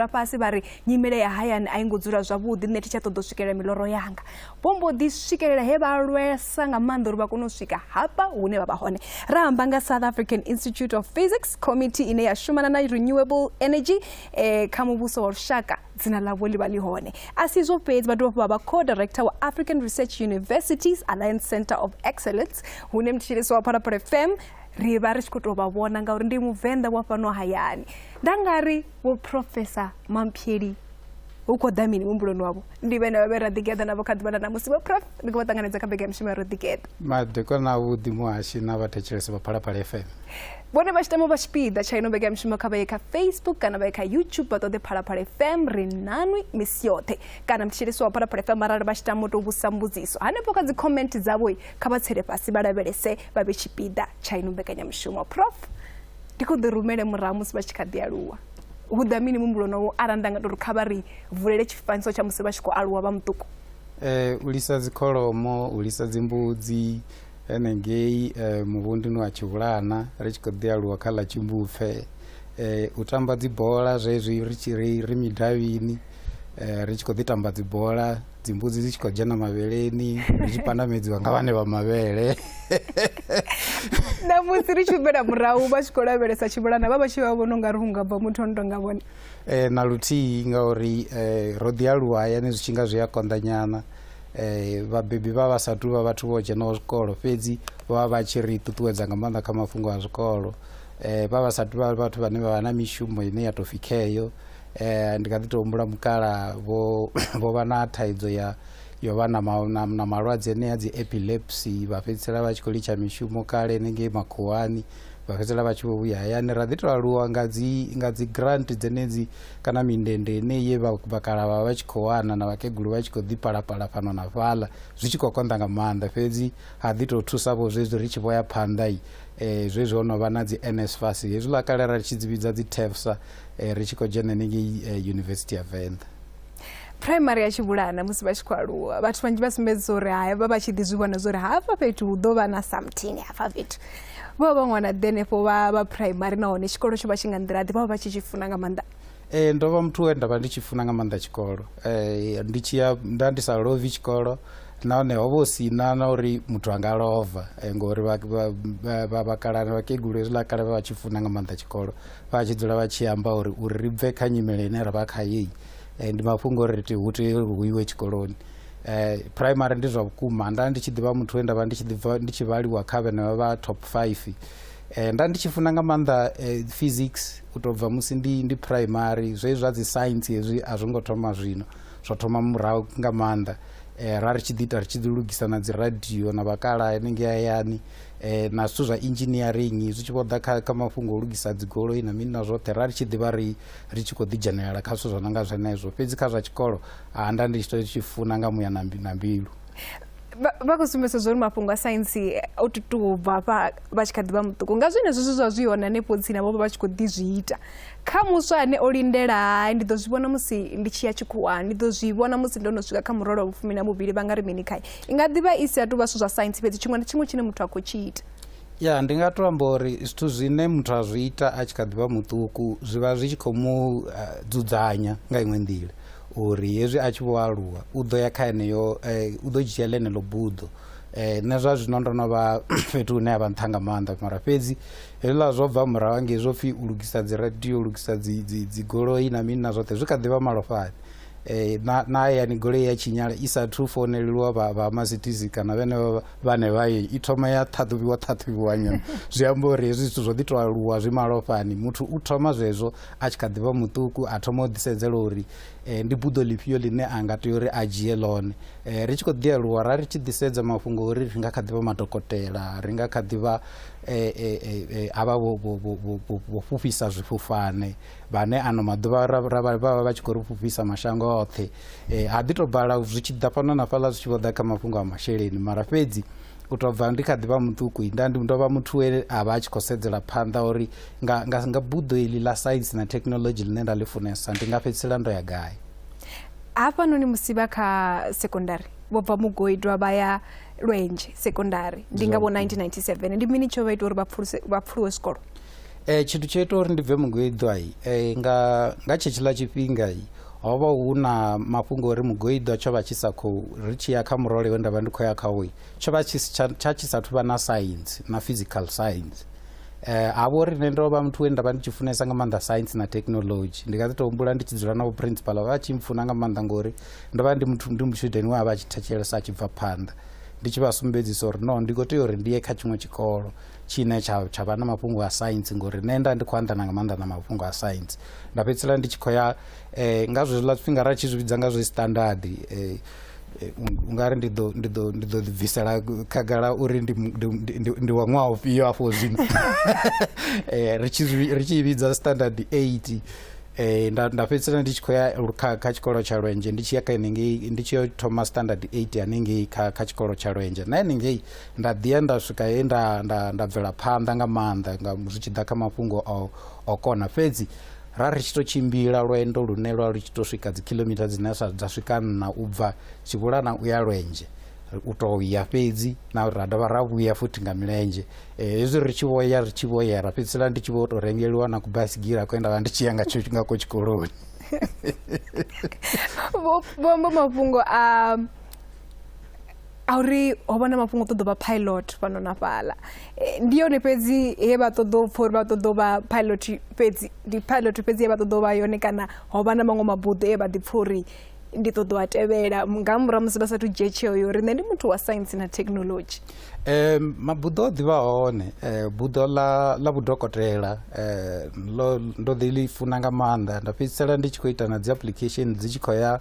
vha fhasi vha ri nyimele ya hayani a i ngo dzula zwavhuḓi nṋe thi tsha ṱoḓa u swikelela miloro yanga vho mbo ḓi swikelela he vha lwesa nga maanḓa uri vha kone u swika hafha hune vha vha hone ra amba nga south african institute of physics committee ine ya shumana na renewable energy eh, kha muvhuso wa lushaka dzina ḽavho ḽi vha ḽi hone a si izwo fhedzi vha dovha vha vha co-director wa african research universities alliance center of excellence hune mthetshelesi wa phalaphala fm ri vha ri tshi khou tou vha vhona ngauri ndi muvenḓa wa fhano hayani nda nga ri vho professor mampheli hu khou ḓa mini muhumbuloni wavho ndi vhene vha vhe ra ḓigeḓa navho kha ḓuvha ḽa ṋamusi vho prof ndi khou vha ṱanganedza kha bege ya mishumo ya ro ḓigeḓa madekwana avhuḓi muhashi na vhathetshelesi vha phalaphala fm vhone vha tshi tama vha tshipiḓa tsha ino vhege ya mishumo kha vha ye kha facebook kana vha ye kha youtube vha ṱoḓe phalaphala fm ri nanwi misi yoṱhe kana mthetshelesi wa phalaphala fm arali vha tshi tama u tou vhusa mbudziso hanefho kha dzi comment dzavho kha vha tsele fhasi vha lavhelese vha vhe tshipiḓa tsha ino mbekanyamushumo prof ndi khou ḓi rumele murahu musi vha tshi kha ḓi aluwa hu ḓa mini muhumbuloni wo arali nda nga tou ri kha vha ri vulele tshifanyiso tsha musi vha tshi khou aluwa vha muṱuku um u lisa dzikholomo u lisa dzimbudzi henengei um muvhunduni wa tshivhulana ri tshi khou ḓi aluwa kha ḽa tshimbupfe um u tamba dzibola zwezwi ri tshi ri ri midavhini um ri tshi khou ḓi tamba dzibola dzimbudzi dzi tshi khou dzhena mavheleni ri tshi pandamedziwa nga vhane vha mavhele namusi ri tshi humela murahu vha tshi khou lavhelesa tshivhulana vha vha tshi vha vhona ungari hu nga bva muthu ono tonga vhone um na luthihi ngauri um ro ḓi aluwa hayani zwi tshi nga zwi a konḓanyana um vhabebi vha vha sa tu vha vhathu vho dzhenaho zwikolo fhedzi vho vha vha tshi ri ṱuṱuwedza nga maanḓa kha mafhungo a zwikolo um vha vha sa tu vha vhathu vhane vha vha na mishumo ine ya tou pfhi kheyo eh, ndi kha ḓi tou humbula mukala vho vho vha na thaidzo ya yo vha na, na, na malwadze enea dzi epilepsy vha fhedzisela vha tshi khou litsha mishumo kale nengei makhuwani vha fhedzisela vha tshi vho vhuya hayani ra ḓi tou aluwa nga dzi nga dzi grant dzenedzi kana mindende ine ye vhakala vha vha tshi khou wana na vhakegulu vha tshi khou ḓi palapala fhano na fhaḽa zwi tshi khou konḓa nga maanḓa fhedzi ha ḓi tou thusa vho zwezwi ri tshi vho ya phanḓa i um eh, zwezwi ho no vha na dzi nsfas hezwiḽa kale ra tshi dzi vhidza dzi tefsa eh, ri tshi khou dzhena henengei eh, yunivesithi ya venḓa phuraimari ya tshivhulana musi vha tshi khou aluwa vhathu vhanzhi vha sumbedza uri haya vha vha tshi ḓi zwi vhona zwa uri hafha fhethu hu ḓo vha na something hafha fhethu vha vha ṅwana ḓi henefho vha vha phuraimari nahone tshikolo tsho vha tshi nga nḓila ḓi vha vha tshi tshi funa nga maanḓa Eh, ndo vha muthu we nda vha ndi tshi funa nga maanḓa tshikolo Eh, ndi tshi ya nda ndi sa lovi tshikolo nahone ho vha hu si na na uri muthu anga lova Eh, ngori vha- vha- vha- vha- vhakalana vhakegulu hezwiḽa kale vha vha tshi funa nga maanḓa tshikolo vha tshi dzula vha tshi amba uri uri ri bve kha nyimele ine ra vha khayo eh, ndi mafhungo ori ti hu tea uri hu iwe tshikoloni eh, primary ndi zwa vhukuma nda ndi tshi ḓivha muthu we nda vha ndi tshi ḓivha ndi tshi vhaliwa kha vhenevha vha top five eh, nda ndi tshi funa nga maanḓa eh, physics u tou bva musi ndi ndi primary zwe zwa dzi science hezwi a zwo ngo thoma zwino zwo thoma murahu nga maanḓa eh, ra ri tshi ḓi ita ri tshi ḓi lugisa na dzi radio na vhakala henengei hayani eh, na zwithu zwa engineering zwi tshi vho ḓa kha, kha mafhungo o lugisa dzigoloi na mini na zwoṱhe ra ri tshi ḓivha ri ri tshi khou ḓidzhenelela kha zwithu zwo no nga zwenezwo fhedzi kha zwa tshikolo a nda ndi tshi to tshi funa nga muya na mbi- na mbilu vha khou sumbedza zwa uri mafhungo a saintsi o tutuwo bva hafha vha tshi kha ḓi vha muṱuku nga zwenezwo zwi zwa zwi hone hanefho tsini vho vha vha tshi khou ḓi zwi ita kha muswa ane o lindela hai ndi ḓo zwi vhona musi ndi tshi ya tshikhuwani ndi ḓo zwi vhona musi ndo no swika kha murole wa vhufumi na vhuvhili vha nga ri mini khae i nga ḓivha i si a tuvha zwithu zwa saintsi fhedzi tshiṅwe na tshiṅwe tshine muthu a khou tshi ita ya ndi nga to amba uri zwithu zwine muthu a zwi ita a tshi kha ḓivha muṱuku zwi vha zwi tshi khou mu eh, dzudzanya nga iṅwe nḓila uri hezwi a tshi vho aluwa u ḓo ya kha eneyo eh, u ḓo dzhia ḽeneḽo buḓo eh, nṋe zwa zwino ndo no vha fhethu hune ya vha nṱha nga maanḓa mara fhedzi hezwiḽa zwo bva murahu angei zwo pfhi u lugisa dzi radio u lugisa dzigoloi na mini na zwoṱhe zwi kha ḓivha malofhani Eh, na na hayani goloi ya tshinyala i sathu founelelwa vha vha masitizi kana vhenevha vhane vha ye i thoma ya ṱhaṱhuvhiwa ṱhaṱhuvhiwa nyana zwi amba uri hezwi zwithu zwo ḓi to aluwa zwi malofhani muthu u thoma zwezwo a tshi kha ḓivha muṱuku a thoma u ḓisedzela uri eh, ndi buḓo ḽifhio ḽine a nga tea uri a dzhie ḽone eh, ri tshi khou ḓi aluwa ra ri tshi ḓisedza mafhungo uri ri nga kha ḓivha madokotela ri nga kha ḓivha eh, eh, eh, eh, havha vho- vho- vho- vho- vho- vho fhufhisa zwifhufhane vhane ano maḓuvha vha vha vha tshi khou ri fhufhisa mashango oṱhe um ha ḓi tou bala zwi tshi ḓa fhano na fhaḽa zwi tshi vho ḓa kha mafhungo a masheleni mara fhedzi u tou bva ndi kha ḓi vha muṱuku nda ndi ndo vha muthu we a vha a tshi khou sedzela phanḓa uri nga, nga, nga buḓo iḽi ḽa saintsi na thekhinolodzhi ḽine nda ḽi funesa ndi nga fhedzisela ndo ya gai hafhanoni musi vha kha sekondari vho bva mugoidwa vha ya lwenje sekondari ndi nga vho 1997 ndi mini tsho vha ita uri vha pfuluwe zwikolo E, tshithu tsho ita uri ndi bve mugoiḓwa e, nga, nga tshetshiḽa tshifhinga ho vha hu na mafhungo uri mugoiḓwa tsho vha tshi sa khou ri tshi ya kha murole we nda vha ndi khou ya khawo tsho vha tshi tsha tshi sathu vha na science na physical science eh ha vho ri nṋe ndo vha muthu we nda vha ndi tshi funesa nga maanḓa science na technology ndi nga ḓi tou humbula ndi tshi dzula na vho principal vha tshi mfuna nga maanḓa ngori ndo vha ndi muthu ndi mutshudeni we a vha a tshi thetshelesa a tshi bva phanḓa ndi tshi vha sumbedzisa uri no ndi khou tea uri ndi ye kha tshiṅwe tshikolo tshine tsha tsha vha na mafhungo a science ngori nṋe nda ndi khou anḓana nga maanḓa na mafhungo a science nda fhedzisela ndi tshi khou ya eh, nga zwezwiḽa zwifhinga ra tshi zwi vhidza nga zwe standard eh, eh, u nga ri ndi ḓo ndi ḓo ndi ḓo ḓibvisela khagala uri ndi ndi- ndi- ndi- ndi wa ṅwaha ufhio afho zwino Eh, ri tshi zwi- ri tshi i vhidza standard 8 Eh, nda nda fhedzisela ndi tshi khou ya lu- kha kha tshikolo tsha lwenje ndi tshi ya kha henengei ndi tshi yo thoma standard 8 hanengei kha kha tshikolo tsha lwenje na henengei nda ḓi ya nda swika he nda, nda, nda bvela phanḓa nga maanḓa nga zwi tshi ḓa kha mafhungo o, o kona fhedzi ra ri tshi tou tshimbila lwendo lune lwa lu tshi tou swika dzi kilomita dzine dza swika nna u bva tshivhulana u ya lwenzhe u tou ya fhedzi na ra dovha ra vhuya futhi nga milenzhe eh, hezwi ri tshi vhoya ri tshi vhoya ra fhedzisela ndi tshi vho tou rengeliwa na kubasigila kwe nda vha ndi tshi ya nga tsho nga ko tshikoloni vho amba mafhungo a a uri ho vha na mafhungo ṱoḓo vha pilot fhano na fhala eh, ndi yone fhedzi he vha ṱoḓo pfha uri vha ṱoḓo vha pilot fhedzi ndi pilot fhedzi he vha ṱoḓo vha yone kana ho vha na maṅwe mabuḓo e vha ḓi pfha uri ndi ṱoḓo a tevhela nga murahu musi vha sathu dzhie tsheo yo uri nṋe ndi muthu wa science na technology um mabuḓo o ḓivha hone um buḓo ḽa ḽa vhudokotela um ndo ḓi ḽi funa nga maanḓa nda fhedzisela ndi tshi khou ita na dzi application dzi tshi khou ya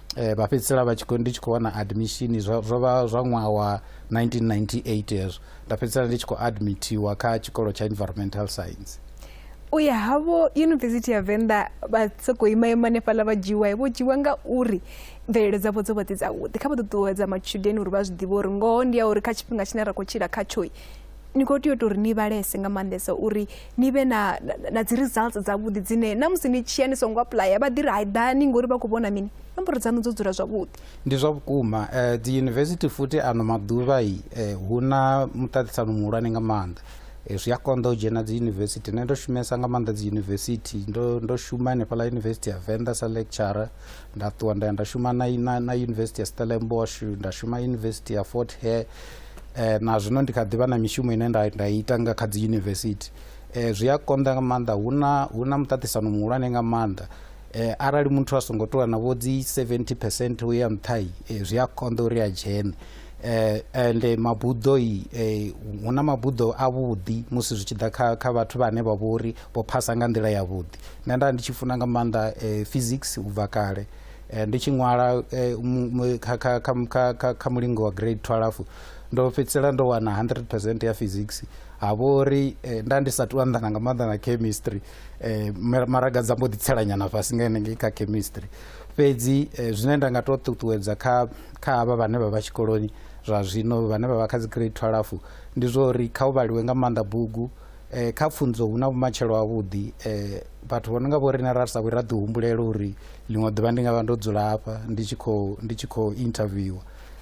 eh, vha fhedzisela vha tshikho ndi tshi khou wana admission zwo vha zwa ṅwaha wa 1998 hezwo nda fhedzisela ndi tshi khou admitiwa kha tshikolo tsha environmental science u ya havho yunivesithi ya venḓa vha sokou ima ima hanefhaḽa vha dzhiwa vho dzhiwa nga uri mvelelo dzavho dzo vha dzi dzavhuḓi kha vha ṱuṱuwedza matshudeni uri vha zwi ḓivhe uri ngoho ndi ya uri kha tshifhinga tshine ra khou tshila khatsho ni khou tea u tou ri ni vhalese nga maanḓesa uri ni vhe na na dzi results dzavhuḓi dzine na musi ni tshiya ni songo apuḽaya vha ḓi ri hai ḓani ngori vha khou vhona mini nomboro dzaṋu dzo dzula zwavhuḓi ndi zwa vhukuma um dzi yunivesithi futhi ano maḓuvha i eh, hu na muṱaṱisano muhulwane nga maanḓa eh, zwi a konḓa u dzhena dzi yunivesithi nṋe ndo shumesa nga maanḓa dzi yunivesithi ndo, ndo shuma hanefhaḽa yunivesithi ya venḓa sa lecturer nda ṱuwa nda ya nda shuma na, na, na yunivesithi ya stellenbosh nda shuma yunivesithi ya fort hare eh, na zwino ndi kha ḓivha na mishumo ine nda, nda ita nga kha dzi yunivesithi eh, zwi a konḓa nga maanḓa hu na hu na muṱaṱisano muhulwane nga maanḓa eh, arali muthu a songo ṱuwa na vho dzi 70 percent u ya nṱhai eh, zwi a konḓa uri a dzhene eh, ende mabuḓo i eh, hu na mabuḓo avhuḓi musi zwi tshi ḓa kha, kha vhathu vhane vha vhori vho phasa nga nḓila yavhuḓi nṋe nda ndi tshi funa nga maanḓa eh, physics u bva kale Eh, ndi tshi ṅwala eh, kha mulingo wa grade 12 ndo fhedzisela ndo wana 100 percent ya physics ha vha uri eh, nda ndi sa tu anḓana nga maanḓa na chemistry maraga dza mbo ḓitselanyana fhasi nga henengei kha chemistry fhedzi zwine nda nga tou ṱuṱuwedza kha kha havha vhane vha vha tshikoloni zwa zwino vhane vha vha kha dzi grade 12 ndi zwa uri kha u vhaliwe nga maanḓa bugu eh, kha pfunzo hu na vhumatshelo havhuḓi eh, vhathu vho no nga vho rine ra sa vhi ra ḓihumbulele uri ḽiṅwe ḓuvha ndi nga vha ndo dzula hafha ndi tshi khou ndi tshi khou interviewa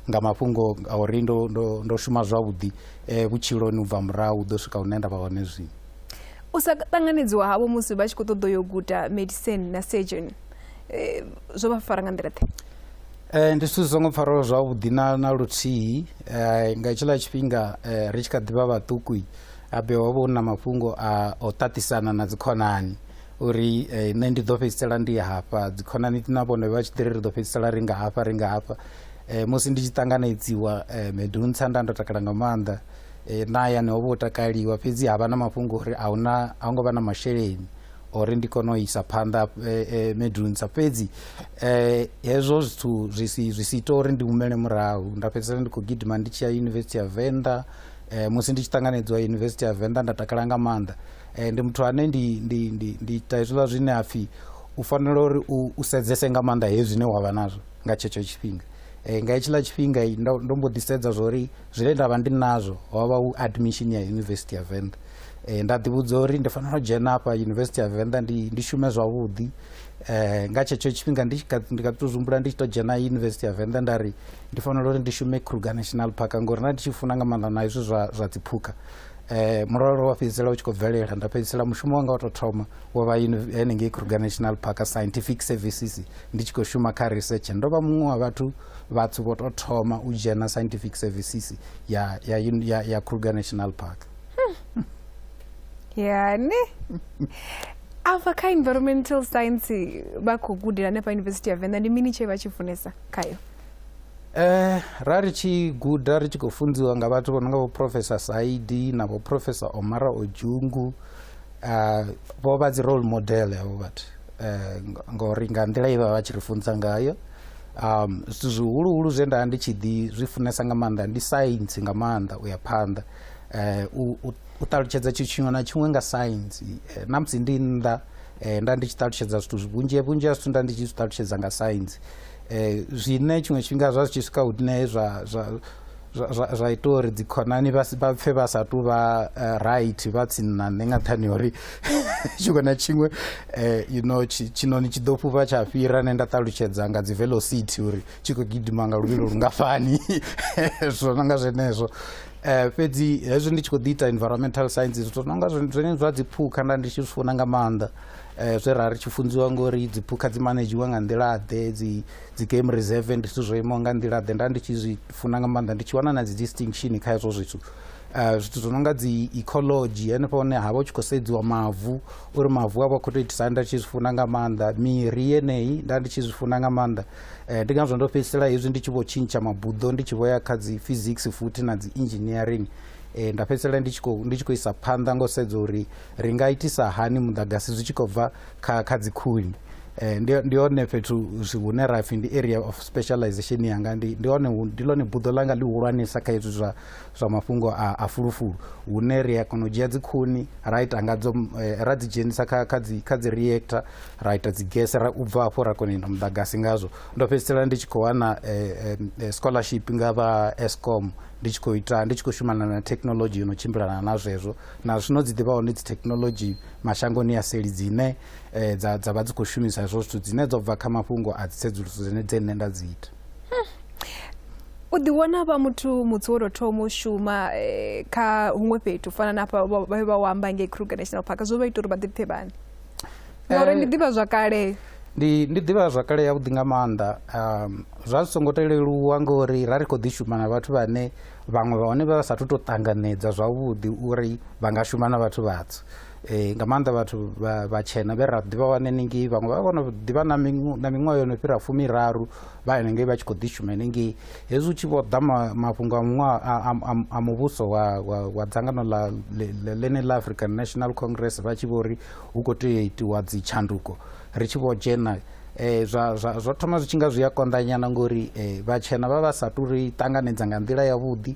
nga mafhungo a uri ndo, ndo, ndo shuma zwavhuḓi eh, vhutshiloni u bva murahu u ḓo swika hune nda vha hone zwino u sa ṱanganedziwa havho musi vha tshi khou ṱoḓa yo guda medicine na surgeon eh, zwo vha fara nga nḓila ḓe Eh, ndi zwithu zwi songo pfaraho zwavhuḓi na na luthihi eh, nga tshiḽa tshifhinga eh, ri tshi kha ḓivha vhaṱuku habe ho vha hu na mafhungo a o ṱaṱisana na dzikhonani uri eh, nṋe ndi ḓo fhedzisela ndi hafha dzikhonani na vhone vha tshi ḓiri ri ḓo fhedzisela ri nga hafha ri nga hafha eh, musi ndi tshi ṱanganedziwa eh, meduntsha nda ndo takala nga maanḓa eh, na hayani ho vha u takaliwa fhedzi ha vha na mafhungo uri a huna a hu ngo vha na masheleni ori ndi kone u isa phanḓa eh, eh, meduntsha fhedzi eh, hezwo zwithu zwi si zwi si ita uri ndi humele murahu nda fhedzisela ndi khou gidima ndi tshi ya yunivesithi ya venḓa eh, musi ndi tshi ṱanganedzwa yunivesithi ya venḓa nda takala nga maanḓa eh, ndi muthu ane ndi, ndi, ndi, ndi ita hezwiḽa zwine ha pfhi u fanela uri u, u sedzese nga maanḓa hezwi zwine wa vha nazwo nga tshetsho tshifhinga eh, nga hetshiḽa tshifhinga ndo, ndo mbo ḓi sedza zwori zwine nda vha ndi nazwo ho vha u admission ya yunivesithi ya venḓa eh, nda ḓivhudza uri ndi fanela u dzhena afha yunivesithi ya venḓa ndi, ndi shume zwavhuḓi eh, nga tshetsho tshifhinga ndi tshi kha ḓi tou zwi humbula ndi tshi tou dzhena yunivesithi ya venḓa nda ri ndi fanela uri ndi shume kruger national park ngori nda ndi tshi funa nga maanḓa na izwi zwa, zwa dziphukha eh muralo wa fhedzisela u tshi khou bvelela nda fhedzisela mushumo wanga wa tou thoma wo vha henengei kruger national park scientific services ndi tshi khou shuma kha research ndo vha muṅwe wa vhathu vhathu vho tou thoma u dzhena scientific services ya, ya, ya, ya kruger national park yani afha kha environmental science vha khou gudela hanefha university ya venḓa ndi mini tshee vha tshi funesa khayo eh ra ri tshi guda ri tshi khou funziwa nga vhathu vho no nga vho professor saidi na vho professor omara ojungu uh, eh, vho vha dzi role model havho vhathu uh, eh, ngori nga nḓila ye vha vha tshi ri funza ngayo um zwithu zwihuluhulu zwe nda ndi tshi ḓi zwi funesa nga maanḓa ndi science nga maanḓa u ya phanḓa eh u u ṱalutshedza tshithu tshiṅwe na tshiṅwe nga science eh, na musi ndi nnḓa eh, nda ndi tshi ṱalutshedza zwithu vhunzhi vhunzhi ha zwithu nda ndi tshi zwi ṱalutshedza nga science eh, zwine tshiṅwe tshifhinga zwa zwi tshi swika hune zwa zwa ita uri dzikhonani vha pfe vha sa tu vha eh, right vha tsini nṋe nga nṱhani uri tshiṅwe na tshiṅwe eh, you know tshinoni tshi ḓo fhufha tsha fhira ne nda ṱalutshedza nga dzi velocity uri tshi khou gidima nga luvhilo lungafhani zwo no nga zwenezwo um fhedzi hezwi ndi tshi khou ḓi ita environmental sciences zwo no nga zwenezwo zwa dziphukha nda ndi tshi zwi funa nga maanḓa eh, zwe ra ri tshi funziwa ngori dziphukha dzi manejiwa nga nḓilaḓe dzi dzi game reserve ndi zwithu zwo imaho nga nḓilaḓe nda ndi tshi zwi funa nga maanḓa ndi tshi wana na dzi distinction kha hezwo zwithu eh, zwithu zwo no nga dzi ecology henefho hone ha vha u tshi khou sedziwa mavu uri mavu a vha khou tou itisa nda tshi zwi funa nga maanḓa miri yeneyi nda ndi tshi zwi funa nga maanḓa eh, ndi ngazwo ndo fhedzisela hezwi ndi tshi vho tshintsha mabuḓo ndi tshi vho ya kha dzi physics futhi na dzi engineering eh, nda fhedzisela ndi tshi khou ndi tshi khou isa phanḓa ngo sedza uri Ri nga itisa hani muḓagasi zwi tshi khou bva kha kha dzikhuni eh, ndi ndi hone fhethu hune ra pfhi ndi area of specialization yanga ndi ndi hone ndi lone buḓo langa ḽi hulwanesa kha hezwi zwa zwa mafhungo a, a fulufulu hune ri a kona u dzhia dzikhuni ra ita ngadzo eh, ra dzi dzhenisa kha kha dzi kha dzi reactor ra ita dzi gese ra u bva afho ra kona ita muḓagasi ngazwo ndo fhedzisela ndi tshi khou wana eh, eh, scholarship nga vha Eskom ndi tshi khou ita ndi tshi khou shumana na technology yo no tshimbilana na zwezwo na zwino dzi ḓivha hone dzithekhinolodzhi mashangoni ya seli dzine eh, dza dza vha dzi khou shumisa hezwo zwithu dzine dzo bva kha mafhungo a dzitsedzuluso dzine dze nṋe nda dzi ita u ḓi wana vha muthu mutsi wo tou thoma u shuma eh, kha huṅwe fhethu u fana na hafha vha- vha vha wamba ngei kruger national park zwo vha ita uri vha ḓipfe vhani ngauri Eh, ndi ḓivha zwakale ndi ndi ḓivha zwakale yavhuḓi nga maanḓa um, zwa zwi songo to leluwa ngori ra ri khou ḓi shuma na vhathu vhane vhaṅwe vha hone vha vha sathu to ṱanganedza zwavhuḓi uri vha nga shuma na vhathu vhatswu um nga maanḓa vhathu vhatshena vhe ra ḓivha wane ningei vhaṅwe vha vhono ḓivha na miṅwaha yo no fhira fumiraru vha henengei vha tshi khou ḓishuma henengei hezwi u tshi vho ḓa mafhungo a muṅwaha a muvhuso wa dzangano ḽa ḽene ḽa african national congress vha tshi vho ri hu khou tea u itiwa dzitshanduko ri tshi vho dzhena eh, zwa, zwa, zwa thoma zwi tshi nga zwi a konḓanyana ngori eh, vhatshena vha vha sa tu ri ṱanganedza nga nḓila yavhuḓi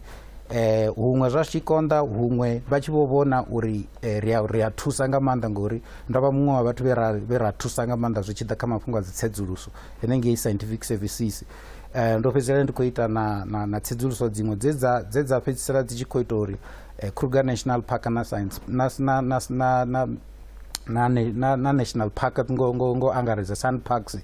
eh, huṅwe zwa tshi konḓa huṅwe vha tshi vho vhona uri eh, ri a- ri a thusa nga maanḓa ngori ndo vha muṅwe wa vhathu vhe ra- vhe ra thusa nga maanḓa zwi tshi ḓa kha mafhungo a dzitsedzuluso henengei scientific services Eh, ndo fhedzisela ndi khou ita na, na, na tsedzuluso dziṅwe dze dza- dze dza fhedzisela dzi tshi khou ita uri eh, kruger national park na science na, na, na, na, na na, na, na national park ngo, ngo, ngo angaredza sun parks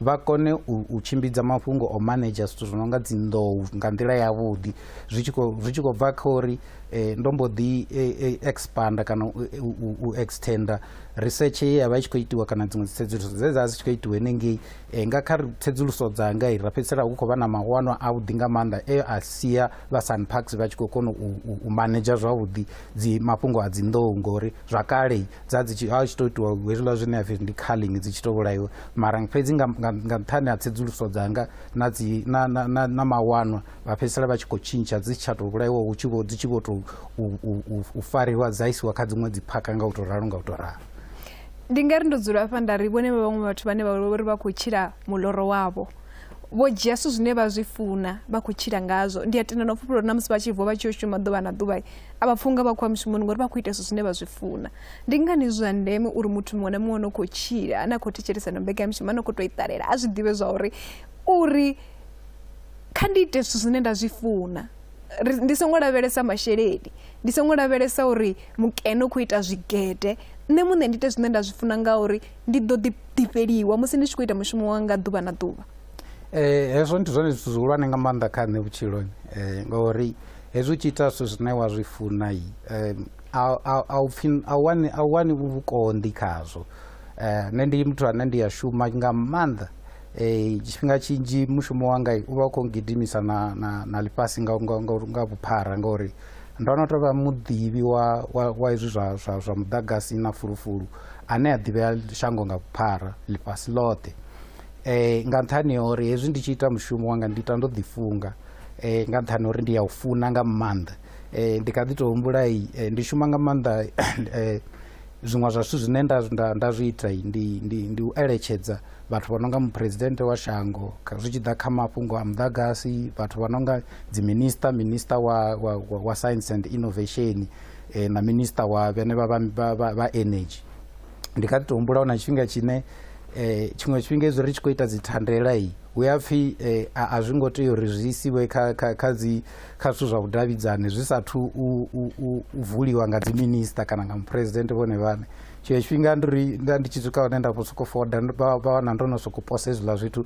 vha kone u, u tshimbidza mafhungo o manager zwithu zwi no nga dzinḓou nga nḓila yavhuḓi zwi tshi khou bva kha uri eh, ndo mbo ḓi eh, eh, expanda kana u, u, u extenda research ye ya vha i tshi khou itiwa kana dziṅwe dzitsedzuluso dze dza dzi tshi khou itiwa henengei eh, nga kha tsedzuluso dzanga i ra fhedzisela hu khou vha na mawanwa avhuḓi nga maanḓa e a sia vha sun parks vha tshi khou kona u, u, u manager zwavhuḓi dzi mafhungo a dzinḓou ngori zwa kale dza dzi tshi a tshi to itiwa hezwiḽa zwine ya pfhi ndi culling dzi tshi to vhulaiwa mara fhedzi nga nṱhani ha tsedzuluso dzanga na dzi na na na, na mawanwa vha fhedzisela vha tshi khou tshintsha dzi tsha to vhulaiwa hu tshi vho dzi tshi vho to u fariwa dza isiwa kha dziṅwe dzi phaka nga u to ralo nga u to ralo ndi nga ri ndo dzula hafha nda ri vhone vha vhaṅwe vhathu vhane vha uri vha khou tshila muloro wavho vho dzhia zwithu zwine vha zwi funa vha khou tshila ngazwo ndi a tenda na u fhufhulwa na musi vha tshi vuwa vha tshi yo shuma ḓuvha na ḓuvha a vha pfunga vha khoya mushumoni ngori vha khou ita zwithu zwine vha zwi funa ndi ngani zwi zwa ndeme uri muthu muṅwe na muṅwe no khou tshila ane a khou thetshelesa no mbekanyamushumo ano khou tou i ṱalela a zwi ḓivhe zwa uri uri kha ndi ite zwithu zwine nda zwi funa ndi songo lavhelesa masheleni ndi songo lavhelesa uri mukene u khou ita zwigede nṋe muṋe ndi ite zwine nda zwi funa ngauri ndi ḓo ḓifheliwa musi ndi tshi khou ita mushumo wanga ḓuvha na ḓuvha um hezwo ndi zwone zwithu zwihulwane nga maanḓa kha nṋe vhutshiloni um ngauri hezwi u tshi ita zwithu zwine wa zwi funa a u wani vhukonḓi khazwo um nṋe ndi muthu ane ndi a shuma nga maanḓa um tshifhinga tshinzhi mushumo wanga u vha u khou ngidimisa na na na ḽifhasi nga nga nga nga vhuphara ngauri ndo no tou vha muḓivhi wa wa wa hezwi zwa zwa zwa muḓagasi na fulufulu ane a ḓivhea shango nga vhuphara ḽifhasi ḽoṱhe um nga nṱhani ha uri hezwi ndi tshi ita mushumo wanga ndi ita ndo ḓifunga eh, nga nṱhani uri ndi ya u funa nga maanḓa eh, ndi kha ḓi tou humbula eh, ndi shuma nga maanḓa eh, zwiṅwe zwa zwithu zwine nda, nda, nda zwi ita ndi, ndi, ndi u eletshedza vhathu vha no nga muphuresidennde wa shango zwi tshi ḓa kha mafhungo a muḓagasi vhathu vha no nga dziminista minista wa, wa, wa, wa science and innovation eh, na minista wa vhene vha, vha, vha, vha energy ndi kha ḓi tou humbula hu na tshifhinga tshine um tshiṅwe tshifhinga hezwi ri tshi khou ita dzi thandela i hu ya pfhi um a zwi ngo tea uri zwi isiwe kha kha kha dzi kha zwithu zwa vhudavhidzani zwi sathu u u vuliwa nga dzi minister kana nga muphuresidennde vhone vhane tshiṅwe tshifhinga ndi ri nda ndi tshi swika hone nda vho sokou foda vha wana ndo no sokou posa hezwiḽa zwithu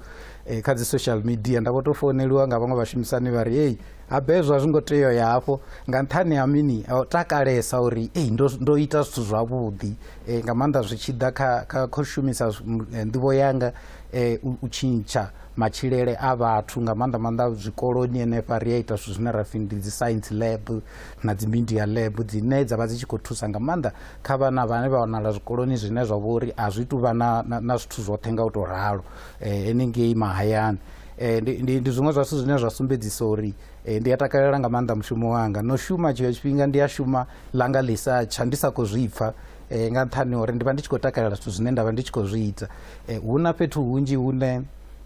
um kha dzi social media nda vho tou founeliwa nga vhaṅwe vhashumisani vha ri ei Habe hezwo a zwi ngo tea u ya hafho nga nṱhani ha mini o takalesa uri ei ndo, ndo ita zwithu zwavhuḓi e, nga maanḓa zwi tshi ḓa kha, kha, kha u shumisa eh, nḓivho yanga e, u, u tshintsha matshilele a vhathu nga maanḓa maanḓa zwikoloni henefha ri a ita zwithu zwine ra pfi ndi dzi science lab na dzi media lab dzine dza vha dzi tshi khou thusa nga maanḓa kha vhana vhane vha wanala zwikoloni zwine zwa vha uri a zwi tu vha na, na, na zwithu zwoṱhe nga u tou ralo eh, henengei mahayani Eh, ndi, ndi, ndi zwiṅwe zwa zwithu zwine zwa sumbedzisa uri eh, ndi a takalela nga maanḓa mushumo wanga no shuma tshiṅwe tshifhinga ndi a shuma langa ḽi sa tsha ndi sa khou zwi pfa eh, nga nṱhani uri ndi vha ndi tshi khou takalela zwithu zwine nda vha ndi tshi khou zwi ita eh, hu na fhethu hunzhi hune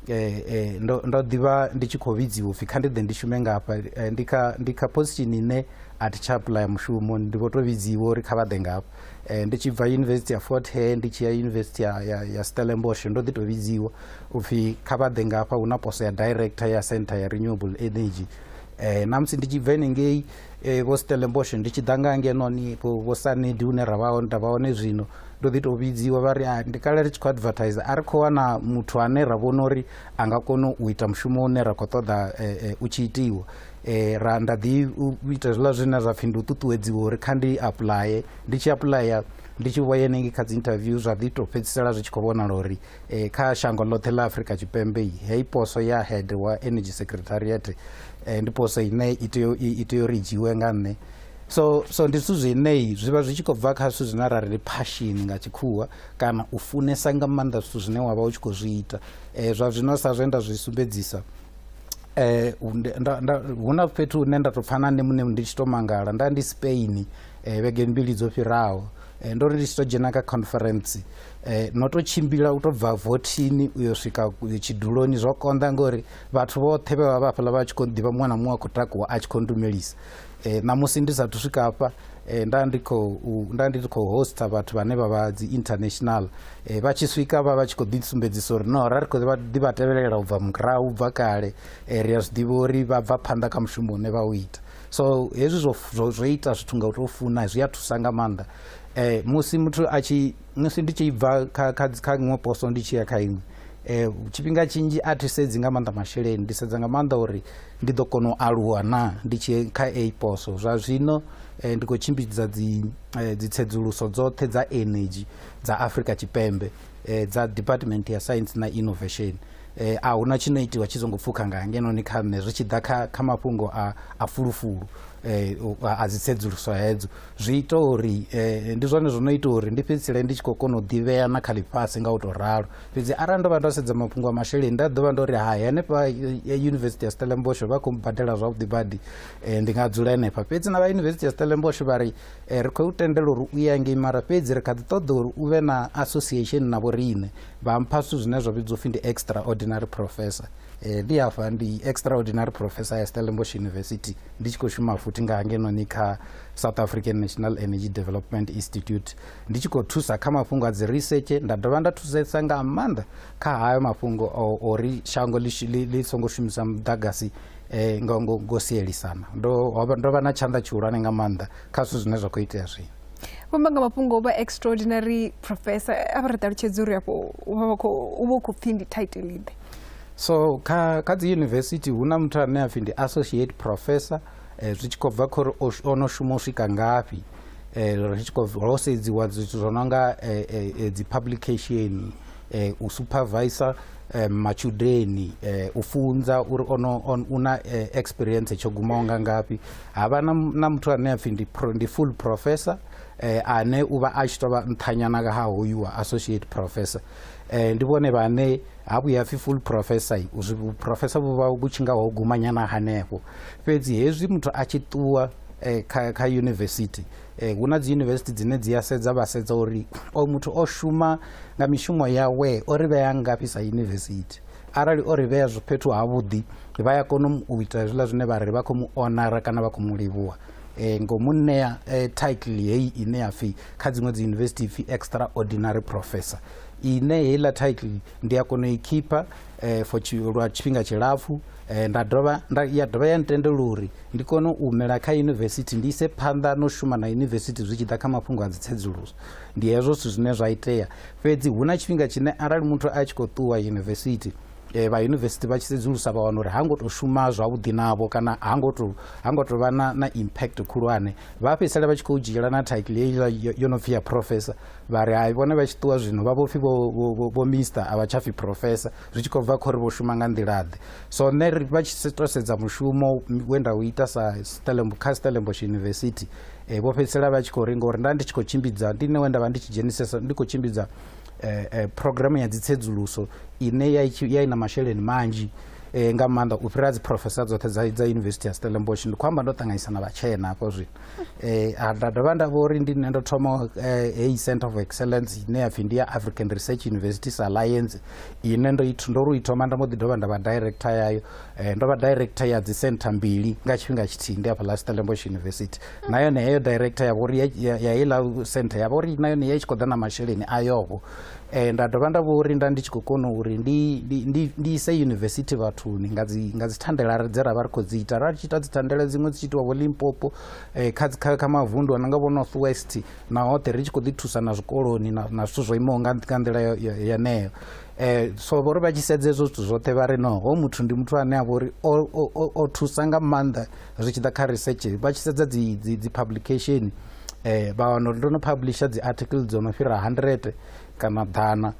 eh, eh, ndo, ndo ḓivha ndi tshi khou vhidziwa upfhi kha ndi ḓe ndi shume ngafha eh, ndi kha ndi kha position ine a thi tsha apply mushumo ndi vho tou vhidziwa uri kha vha ḓe ngafha Eh, ndi tshi bva yunivesithi ya fort hare ndi tshi ya yunivesithi ya, ya, ya stellenbosch ndo ḓi tou vhidziwa upfhi kha vha ḓe ngafha hu na poso ya director ya center ya renewable energy eh, na musi ndi tshi bva enengei eh, vho stellenbosch ndi tshi ḓa nga ngenoni vho sanedi hune ra vha hone nda vha hone zwino ndo ḓi tou vhidziwa vha ri ah, ndi kale ri tshi khou advertise a ri khou wana muthu ane ra vhona uri a nga kona u ita mushumo une ra khou ṱoḓa eh, eh, u tshi itiwa eh, ra nda ḓi u ita zwiḽa zwine zwa pfhi ndi u ṱuṱuwedziwa uri kha ndi apuḽaye ndi tshi apuḽaya ndi tshi vhoya henengei kha dzi interview zwa ḓi tou fhedzisela zwi tshi khou vhonala uri eh, kha shango ḽoṱhe ḽa afrika tshipembe i heyi poso ya head wa energy secretariat eh, ndi poso ine i tea u- i i tea uri i dzhiiwe nga nṋe so so ndi zwithu zwenei zwi vha zwi tshi khou bva kha zwithu zwine ra ri ndi phashini nga tshikhuwa kana u funesa nga maanḓa zwithu zwine wa vha u tshi khou zwi ita um zwa zwino sa zwe nda zwi sumbedzisa um hu na fhethu hune nda tou pfha na nṋe muṋe ndi tshi tou mangala nda ndi spain um vhege mbili dzo fhiraho um ndo ri ndi tshi tou dzhena kha conference um no tou tshimbila u tou bva vothini u yo swika tshiduloni zwo konḓa ngori vhathu vhoṱhe vhe vha vha fhaḽa vha tshi khou ḓivha muṅwe na muṅwe a khou takuwa a tshi khou ndumelisa eh, ṋamusi ndi sathu swika hafha eh, nda ndi khou nda ndi khou hosta vhathu vhane vha vha dzi international eh, vha tshi swika vha vha tshi khou ḓisumbedzisa uri no ra ri khou ḓi vha tevhelela u bva murahu u bva kale eh, ri a zwi ḓivha uri vha bva phanḓa kha mushumo une vha u ita so hezwi zwo ita zwithu nga u tou funa zwi a thusa nga maanḓa eh, musi muthu a tshi musi ndi tshi bva kha kha kha iṅwe poso ndi tshi ya kha iṅwe eh tshifhinga tshinzhi a thi sedzi nga maanḓa masheleni ndi sedza nga maanḓa uri ndi ḓo kona u aluwa na ndi tshi kha a poso zwa zwino eh, ndi khou tshimbidza dzi eh, dzitsedzuluso dzoṱhe dza energy dza afrika tshipembe eh, dza department ya science na innovation eh, a huna tshino itiwa tshi songo pfukha nga ngenoni kha nṋe zwi tshi ḓa kha, kha mafhungo a, a fulufulu eh, a a dzitsedzuluso hedzo Zwi ita uri eh, ndi zwone zwo no ita uri ndi fhedzisele ndi tshi khou kona u ḓivhea na kha ḽifhasi nga u tou ralo fhedzi arali ndo vha ndo sedza mafhungo a masheleni nda ḓo vha ndo ri hai henefha eh, yunivesithi ya stellenbosch vha khou badela zwavhuḓi badi eh, ndi nga dzula henefha fhedzi na vha yunivesithi ya stellenbosch vha ri eh, ri khou u tendela uri u ya ngei mara fhedzi ri kha ḓi ṱoḓa uri u vhe na association na vhoriṋe vha mpha zwithu zwine zwa vhidzwa upfhi ndi extraordinary professor eh, ndi hafha ndi extraordinary professor ya stellenbosch university ndi tshi khou shuma futhi nga hangenoni kha south african national energy development institute ndi tshi khou thusa kha mafhungo a dzi research nda dovha nda thusesa nga maanḓa kha hayo mafhungo ori shango ḽi songo shumisa muḓagasi um ngo, ngo, ngo sielisana ndo vha na tshanḓa tshihulwane nga maanḓa kha zwithu zwine zwa khou itea zwino vhamba nga mafhungo o vha extraordinary professor a vha ri ṱalutshedza uri afho u vha u khou pfhi ndi title iḓe So kha, kha dzi yunivesithi hu na muthu ane a pfi ndi associate professor eh, zwi tshi khou bva khori o no shuma u swika ngafhi eh, ri tshi khou ho sedziwa zwithu zwo no nga eh, eh, eh dzi publication eh, u supervisor eh, matshudeni eh, u funza uri ono on, una eh, experience tsho gumaho nga ngafhi ha vha na, na muthu ane a pfi ndi, pro, ndi full professor eh, ane u vha a tshi tou vha nṱhanyana ha hoyu wa associate professor eh, ndi vhone vhane ha vhuya pfi full professor zwi vhuprofesa vhu vha vhu tshi nga ho gumanyana hanefho fhedzi hezwi muthu a tshi ṱuwa eh, kha, kha yunivesithi eh, hu na dzi yunivesithi dzine dzi a sedza vha sedza uri o muthu o shuma nga mishumo yawe o ri vhea ngafhi sa yunivesithi arali o ri vhea fhethu havhuḓi vha ya kona u ita hezwiḽa zwine vha ri vha khou mu onara kana vha khou mu livhuwa eh, ngo mu ṋea eh, title heyi ine ya pfhi kha dziṅwe dzi yunivesithi pfhi extraordinary professor ine heiḽa title ndi a kona u i khipha eh, for lwa tshifhinga tshilapfu eh, nda dovha nda ya dovha ya ntendela uri ndi kone u mela kha yunivesithi ndi ise phanḓa no shuma na yunivesithi zwi tshi ḓa kha mafhungo a dzitsedzuluso ndi hezwo zwithu zwine zwa itea fhedzi hu na tshifhinga tshine arali muthu a tshi khou ṱuwa yunivesithi eh, vha yunivesithi vha tshi sedzulusa vha wana uri ha ngo tou shuma zwavhuḓi navho kana ha ngo tou ha ngo tou vha na, na impact khulwane vha fhedzisela vha tshi khou dzhiela na title yo no pfhi ya professor vha ri hai vhone vha tshi ṱuwa zwino vha vhopfi vho mister a vha tsha pfi professor zwi tshi khou bva khori vho shuma nga nḓilaḓe so nṋe vha tshi to sedza mushumo we nda u ita sa kha stellenbosh university um vho fhedzisela vha tshi khou ri ngori nda ndi tshi khou tshimbidza ndi nṋe we nda vha ndi tshi dzhenisesa ndi khou tshimbidza um programu ya dzitsedzuluso ine ya i na masheleni manzhi um nga maanḓa u fhira dzi professor dzoṱhe dza dza university ya stellenbosh ndi khou amba ndo ṱanganyisa na vhatshena hafho zwino eh, ah, nda dovha nda vha uri ndi nṋe ndo thoma eh, heyi center of excellence ine ya pfi ndi ya african research universities alliance ine ndo i- ndo ri i thoma nda mbo ḓi dovha nda vha director yayo eh, ndo vha director ya dzi center mbili nga tshifhinga tshithihi ndi hafha la stellenbosch university na yone heyo director ya vha uri ya- ya ya heiḽa center ya vha uri na yone ya i tshi khou ḓa na masheleni ayovho Eh, nda dovha nda vho uri nda ndi tshi khou kona uri ndi, ndi, ndi, ndi ise yunivesithi vhathuni nga dzi, nga dzi thandela dze ra vha ri khou dzi ita ra tshi ita dzi thandela dziṅwe dzi tshi itiwa vho limpopo eh, kha, dzi- kha, kha mavundu a no nga vho north west na hoṱhe ri tshi khou ḓi thusa na zwikoloni na, na zwithu zwo imaho nga nga nḓila yo- yo- yeneyo eh, so vho ri vha tshi sedza hezwo zwithu zwoṱhe vha ri no ho muthu ndi muthu ane a vha uri o, o, o, o thusa nga maanḓa zwi tshi ḓa kha research vha tshi sedza dzi, dzi, dzi publication um eh, vha wana uri ndo no publisha dzi article dzo no fhira 100 kana ḓana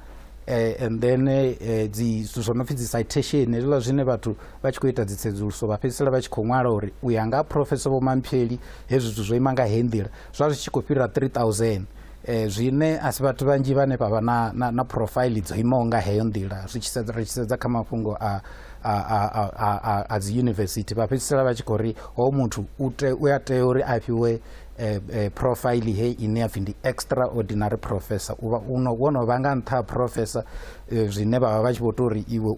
eh, and then eh, dzi zwithu zwo no pfhi dzi citation hezwiḽa zwine vhathu vha tshi khou ita dzitsedzuluso vha fhedzisela vha tshi khou ṅwala uri u ya nga professor vho mampheli hezwi zwithu zwo ima nga he nḓila zwa zwi tshi khou fhira 3000 eh, zwine a si vhathu vhanzhi vhane vha vha na, na, na profile dzo imaho nga heyo nḓila ri tshi sedza kha mafhungo a a, a, a, a, a dzi yunivesithi vha fhedzisela vha tshi khou ri ho muthu u a tea uri a fhiwe eh, eh, profile he ine ya pfhi ndi extraordinary professor u vha wo no vha nga nṱha ha professor eh, zwine vha vha vha tshi vho tou ri iwe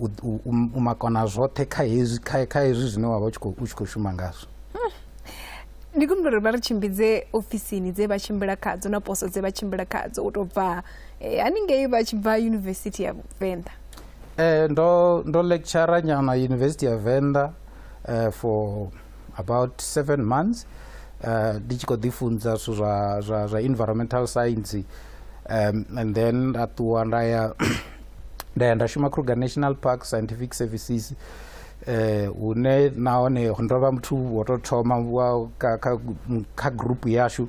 u makona zwoṱhe kha hezwi kha hezwi zwine wa vha u tshi khou shuma ngazwo ndi kumbula uri vha ri tshimbidze ofisini dze vha tshimbila khadzo na poso dze vha tshimbila khadzo u tou bva eh, haningei vha tshi bva yunivesithi ya venḓa Eh, ndo, ndo lecturer nyana university ya venda eh, for about seven months eh, ndi tshi khou ḓifunza zwithu zwa, zwa, zwa environmental science um, and then nda ṱuwa nda ya nda ya nda shuma kruger national park scientific services eh hune nahone ndo vha muthu wo tou thoma wa- kha, kha, kha group yashu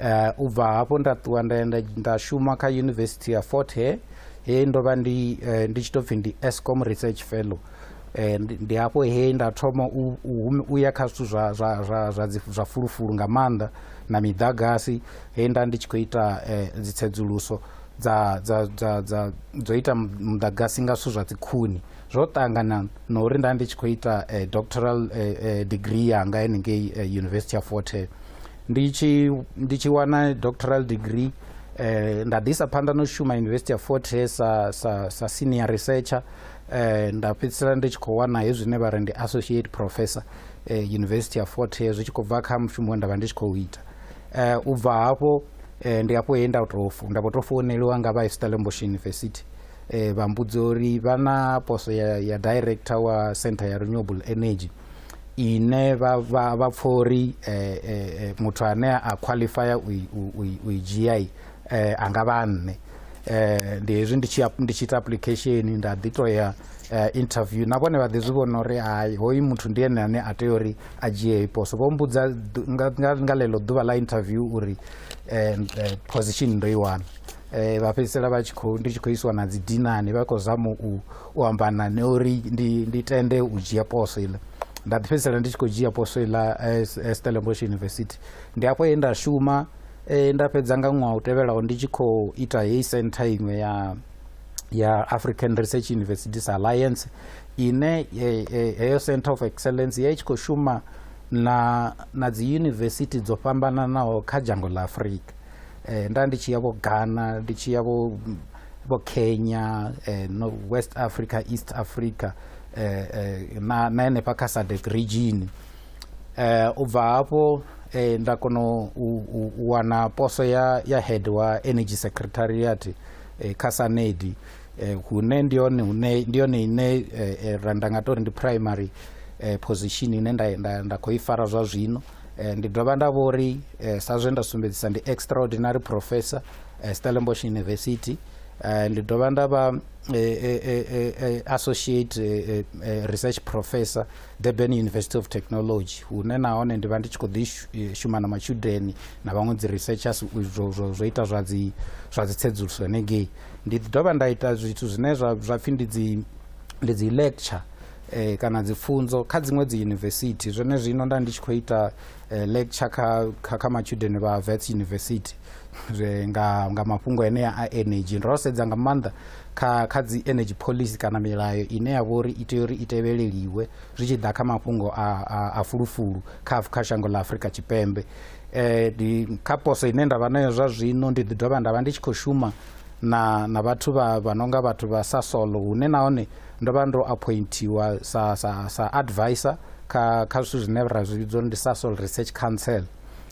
Uh, u bva hafho nda ṱuwa nda enda nda shuma kha university ya fort he he ndo vha ndi uh, ndi tshi tou pfhi ndi escom research fellow Eh, ndi hafho he nda thoma u ya kha zwithu zwa zwa zwa zwa zwa fulufulu nga maanḓa na miḓagasi he nda ndi tshi khou ita eh, dzitsedzuluso dza dza dza dza dzo ita muḓagasi nga zwithu zwa dzikhuni zwo ṱangana na uri nda ndi tshi khou ita eh, doctoral degree yanga henengei university ya forte ndi tshi ndi tshi wana doctoral degree eh, nda ḓisa phanḓa no shuma university ya fort hare sa, sa, sa senior researcher eh, nda fhedzisela ndi tshi khou wana he zwine vha ri ndi associate professor eh, university ya fort hare zwi tshi khou bva kha mushumo we nda vha ndi tshi khou ita eh, u bva hafho eh, ndi hafho he nda tou fo- nda vho tou founeliwa nga vha stellenbosch university eh, vha mbudza uri vha na poso ya, ya director wa center ya renewable energy ine vha vha vha pfha uri eh, eh, eh, muthu ane a qualifya u i dzhia eh, a nga vha a nṋe eh, ndi hezwi ndi tshi ndi tshi ita application nda ḓi to ya eh, interview na vhone vha ḓi zwi vhona uri hai hoyu muthu ndi ene ane a tea uri a dzhie heyi poso vho mbudza ḓu- nga, nga, nga ḽeḽo ḓuvha ḽa interview uri eh, eh, position ndo i wana eh, vha fhedzisela vha tshi khou ndi tshi khou isiwa na dzi dinani vha khou zama u u amba na nṋe uri ndi, ndi tende u dzhia poso iḽa nda ḓi fhedzisela ndi tshi khou dzhia poso iḽa eh, eh, stellenbosch university ndi afho he nda shuma eh, nda fhedza nga ṅwaha u tevhelaho ndi tshi khou ita heyi centre iṅwe ya ya african research universities alliance ine eh, eh, heyo centre of excellence ya i tshi khou shuma na, na dzi university dzo fhambananaho kha dzhango ḽa afrika eh, nda ndi tshi ya vho ghana ndi tshi ya vho vho kenya eh, no, west africa east africa eh, eh, na, na henefha kha sadec region eh, u bva hafho eh, nda kona u, u, u wana poso ya, ya head wa energy secretariat eh, kha sanedi eh, hune ndi yone hune ndi yone ine eh, eh, ra nda nga tori ndi primary eh, position ine nda, nda, nda khou i fara zwa zwino Eh, ndi dovha nda vho ri eh, sa zwe nda sumbedzisa ndi extraordinary professor eh, stellenbosch university ndi dovha nda vha associate research professor durban university of technology hune nahone ndi vha ndi tshi khou ḓi shuma na matshudeni na vhaṅwe dzi researchers zwo ita zwa dzi zwa dzi tsedzuluso hanengei ndi dovha nda ita zwithu zwine zwa pfhi ndi dzi ndi dzi lecture eh, kana dzipfunzo kha dziṅwe dzi university zwone zwino nda ndi tshi khou ita eh, lecture kha, kha, kha matshudeni vha vets university zwe nga, nga mafhungo enea a energy ro sedza nga maanḓa kha, kha dzi energy policy kana milayo ine ya vha uri i tea uri i tevheleliwe zwi tshi ḓa kha mafhungo a, a, a fulufulu kha, kha shango ḽa afurika tshipembe eh, kha poso ine nda vha nayo zwa zwino ndi ḓi dovha nda vha ndi tshi khou shuma na na vhathu vha vha nonga vhathu vha sa solo hune nahone ndo vha ndo appointiwa sa sa sa advisor kha kha zwithu zwine ra zwi vhidzwa ndi sasol research council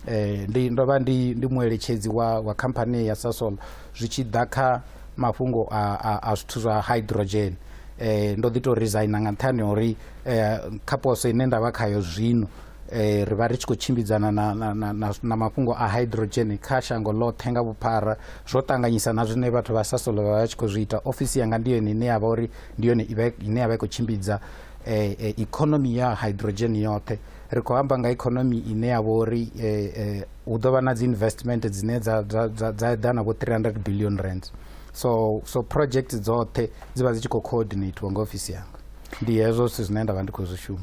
eh ndi ndo vha ndi ndi mueletshedzi wa wa company ya sasol zwi tshi ḓa kha mafhungo a a, a zwithu zwa hydrogen eh ndo ḓi to resigna nga nṱhani uri eh kha poso ine ndavha khayo zwino eh, ri vha ri tshi khou tshimbidzana na, na, na, na, na mafhungo a hydrogen kha shango ḽoṱhe nga vhuphara zwo ṱanganyisa na zwine vhathu vha sasolo vha vha tshi khou zwi ita ofisi yanga ndi yone ine ya vha uri ndi yone ine ya vha i khou tshimbidza eh, eh, economy ya hydrogen yoṱhe ri khou amba nga economy ine ya vha uri eh, eh, hu ḓo vha na dzi investment dzine dza eḓana vho 300 billion rands so so project dzoṱhe dzi vha dzi tshi khou coordinatiwa nga ofisi yanga ndi hezwo zwithu zwine nda vha ndi khou zwi shuma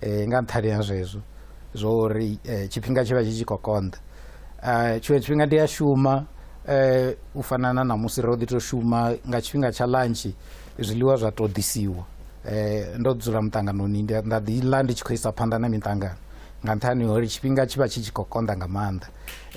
eh, nga nṱhani ha zwezwo zwo uri eh, tshifhinga tshi vha tshi tshi khou konḓa eh, tshiṅwe tshifhinga ndi a shuma eh, u fana na namusi ro ḓi tou shuma nga tshifhinga tsha lantshi zwiḽiwa zwa tou ḓisiwa eh, ndo dzula muṱanganoni ndi- nda ḓi ḽa ndi tshi khou isa phanḓa na miṱangano nga nṱhani ha uri tshifhinga tshi vha tshi tshi khou konḓa nga maanḓa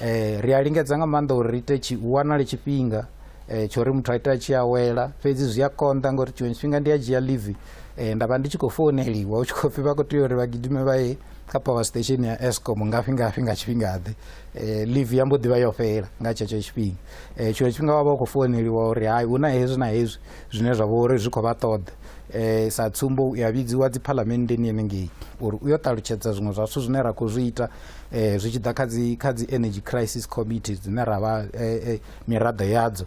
eh, ri a lingedza nga maanḓa uri ri ite tshi hu wanale tshifhinga eh, tsho uri muthu a ita a tshi awela fhedzi zwi a konḓa ngauri tshiṅwe tshifhinga ndi a dzhia live eh, nda vha ndi tshi khou founeliwa u tshi khou pfhi vha khou tea uri vha gidime vha ye kha power station ya escom ngafhi ngafhi nga tshifhingaḓe eh, live ya mbo ḓi vha yo fhela nga tshetsho tshifhinga eh, tshiṅwe tshifhinga vha vha khou founeliwa uri hai hu na hezwi na hezwi zwine zwa vha uri zwi khou vha ṱoḓa eh, sa tsumbo u ya vhidziwa dzi phalamenndeni yenengei uri u yo ṱalutshedza zwiṅwe zwa zwithu zwine ra khou zwi ita eh, zwi tshi ḓa kha dzi energy crisis committee dzine ra vha eh, eh, miraḓo yadzo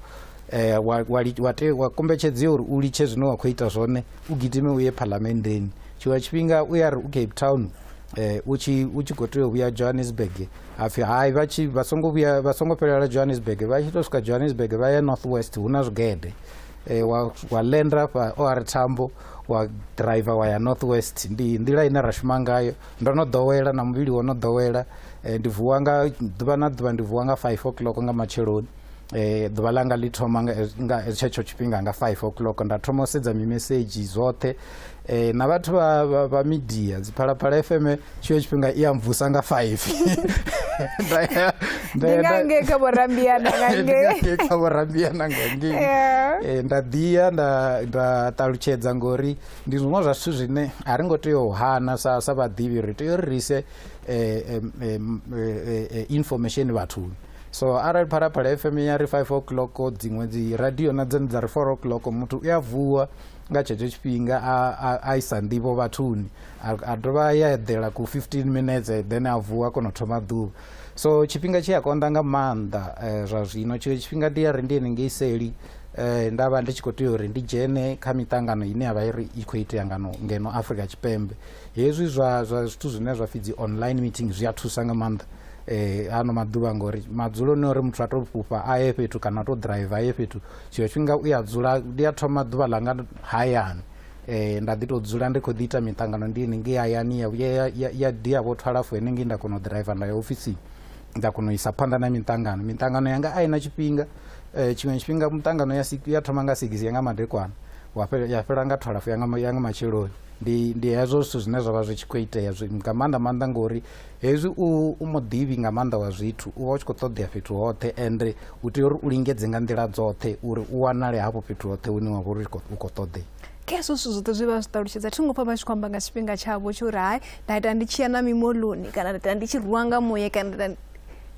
eh, wa, wa, wa, te, wa kombetshedziwa uri u litshe zwine wa khou ita zwone u gidime u ye phalamenndeni tshiṅwe tshifhinga u ya ri u cape town eh, u tshi u tshi khou tea u vhuya johannesburg hapfi hai vha tshi vha songo vhuya vha songo fhelela johannesburg vha tshi tou swika johannesburg vha ya north west hu na zwigede eh, wa, wa lenda fha o ari thambo wa driver wa ya north west ndi nḓila ine ra shuma ngayo ndo no ḓowela na muvhili wo no ḓowela eh, ndi vuwa nga ḓuvha na ḓuvha ndi vuwa nga 5 o'clock nga matsheloni eh, ḓuvha langa ḽi thoma nga tshetsho tshifhinga nga 5 o'clock nda thoma u sedza mimesedzhi zwoṱhe eh, na vhathu vha midia dziphalaphala fm tshiyo tshifhinga i amvusa nga 5 ndange kha vhorambiana ngange kha vhorambiana ngange eh, nda ḓiya nda ṱalutshedza ngori ndi zwiṅwe zwa zwithu zwine a ri ngo tea u hana sa sa vhaḓivhi ri tea uri ri ise eh, eh, information vhathuni so arali phalaphala fm ya ri five o'clock dziṅwe dzi radio na dzone dza ri four o'clock muthu u a vuwa nga tshetsho tshifhinga a isa nḓivho vhathuni a dovha a ya eḓela ku fifteen minutes then a vuwa a kona u thoma ḓuvha so tshifhinga tshi a konḓa nga maanḓa eh, zwa zwino tshiṅwe tshifhinga ndi ya ri ndi henengei seli eh, nda vha ndi tshi khou tea uri ndi dzhene kha miṱangano ine ya vha iri i khou itea ngano ngeno afrika tshipembe hezwi zwa zwithu zwine zwa pfhi dzi online meeting zwi a thusa nga maanḓa eh, ano maḓuvha ngori madzuloni uri muthu a to fhufha a ye fhethu kana a to drive a ye fhethu tshiṅwe tshifhinga u ya dzula ndi a thoma ḓuvha ḽanga hayani eh, nda ḓi tou dzula ndi khou ḓi ita miṱangano ndi henengei hayani ya vhuya ya- ya- ya dia vho twalafu henengei nda kona u driver nda ya ofisini nda kona u isa phanḓa na miṱangano miṱangano yanga a i na tshifhinga eh, tshiṅwe tshifhinga miṱangano ya sik- ya thoma nga sigisi ya nga madekwana wa fhe- ya fhela nga twalafu ya nga ma- ya nga matsheloni ndi ndi hezwo zwithu zwine zwa vha zwi tshi khou itea zwi- nga maanḓa maanḓa ngori Hezwi u u muḓivhi nga maanḓa wa zwithu, u vha u tshi khou ṱoḓea fhethu hoṱhe, ende u tea uri u lingedze nga nḓila dzoṱhe uri u wanale hafho fhethu hoṱhe hune wa vha uri u khou ṱoḓea. Khezwo zwithu zwoṱhe zwi vha zwi ṱalutshedza. Thi ngo pfa vha tshi khou amba nga tshifhinga tshavho tsho uri hai nda ita ndi tshi ya na mimoḽoni kana nda ita ndi tshi rwiwa nga muye kana nda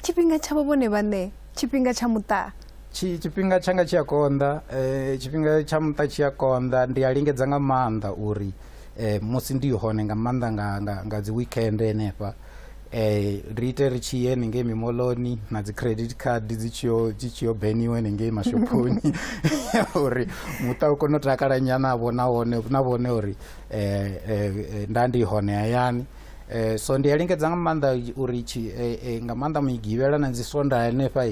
tshifhinga tshavho vhone vhaṋe tshifhinga tsha muṱa tshifhinga tshanga tshi a konḓa um tshifhinga tsha muṱa tshi a konḓa ndi a lingedza nga maanḓa uri eh, musi ndi hone nga maanḓa nga, nga, nga dzi weekend henefha eh ri ite ri tshi ye henengei mimoloni na dzi credit card dzi tshiyo dzi tshiyo beniwe henengei mashophoni uri muṱa u kone u takala nyana vho na wone na vhone uri eh, eh, eh, nda ndi hone hayani Eh, so ndi a lingedza nga maanḓa uri tshi, eh, eh, nga maanḓa migivhela na dzi sonda henefha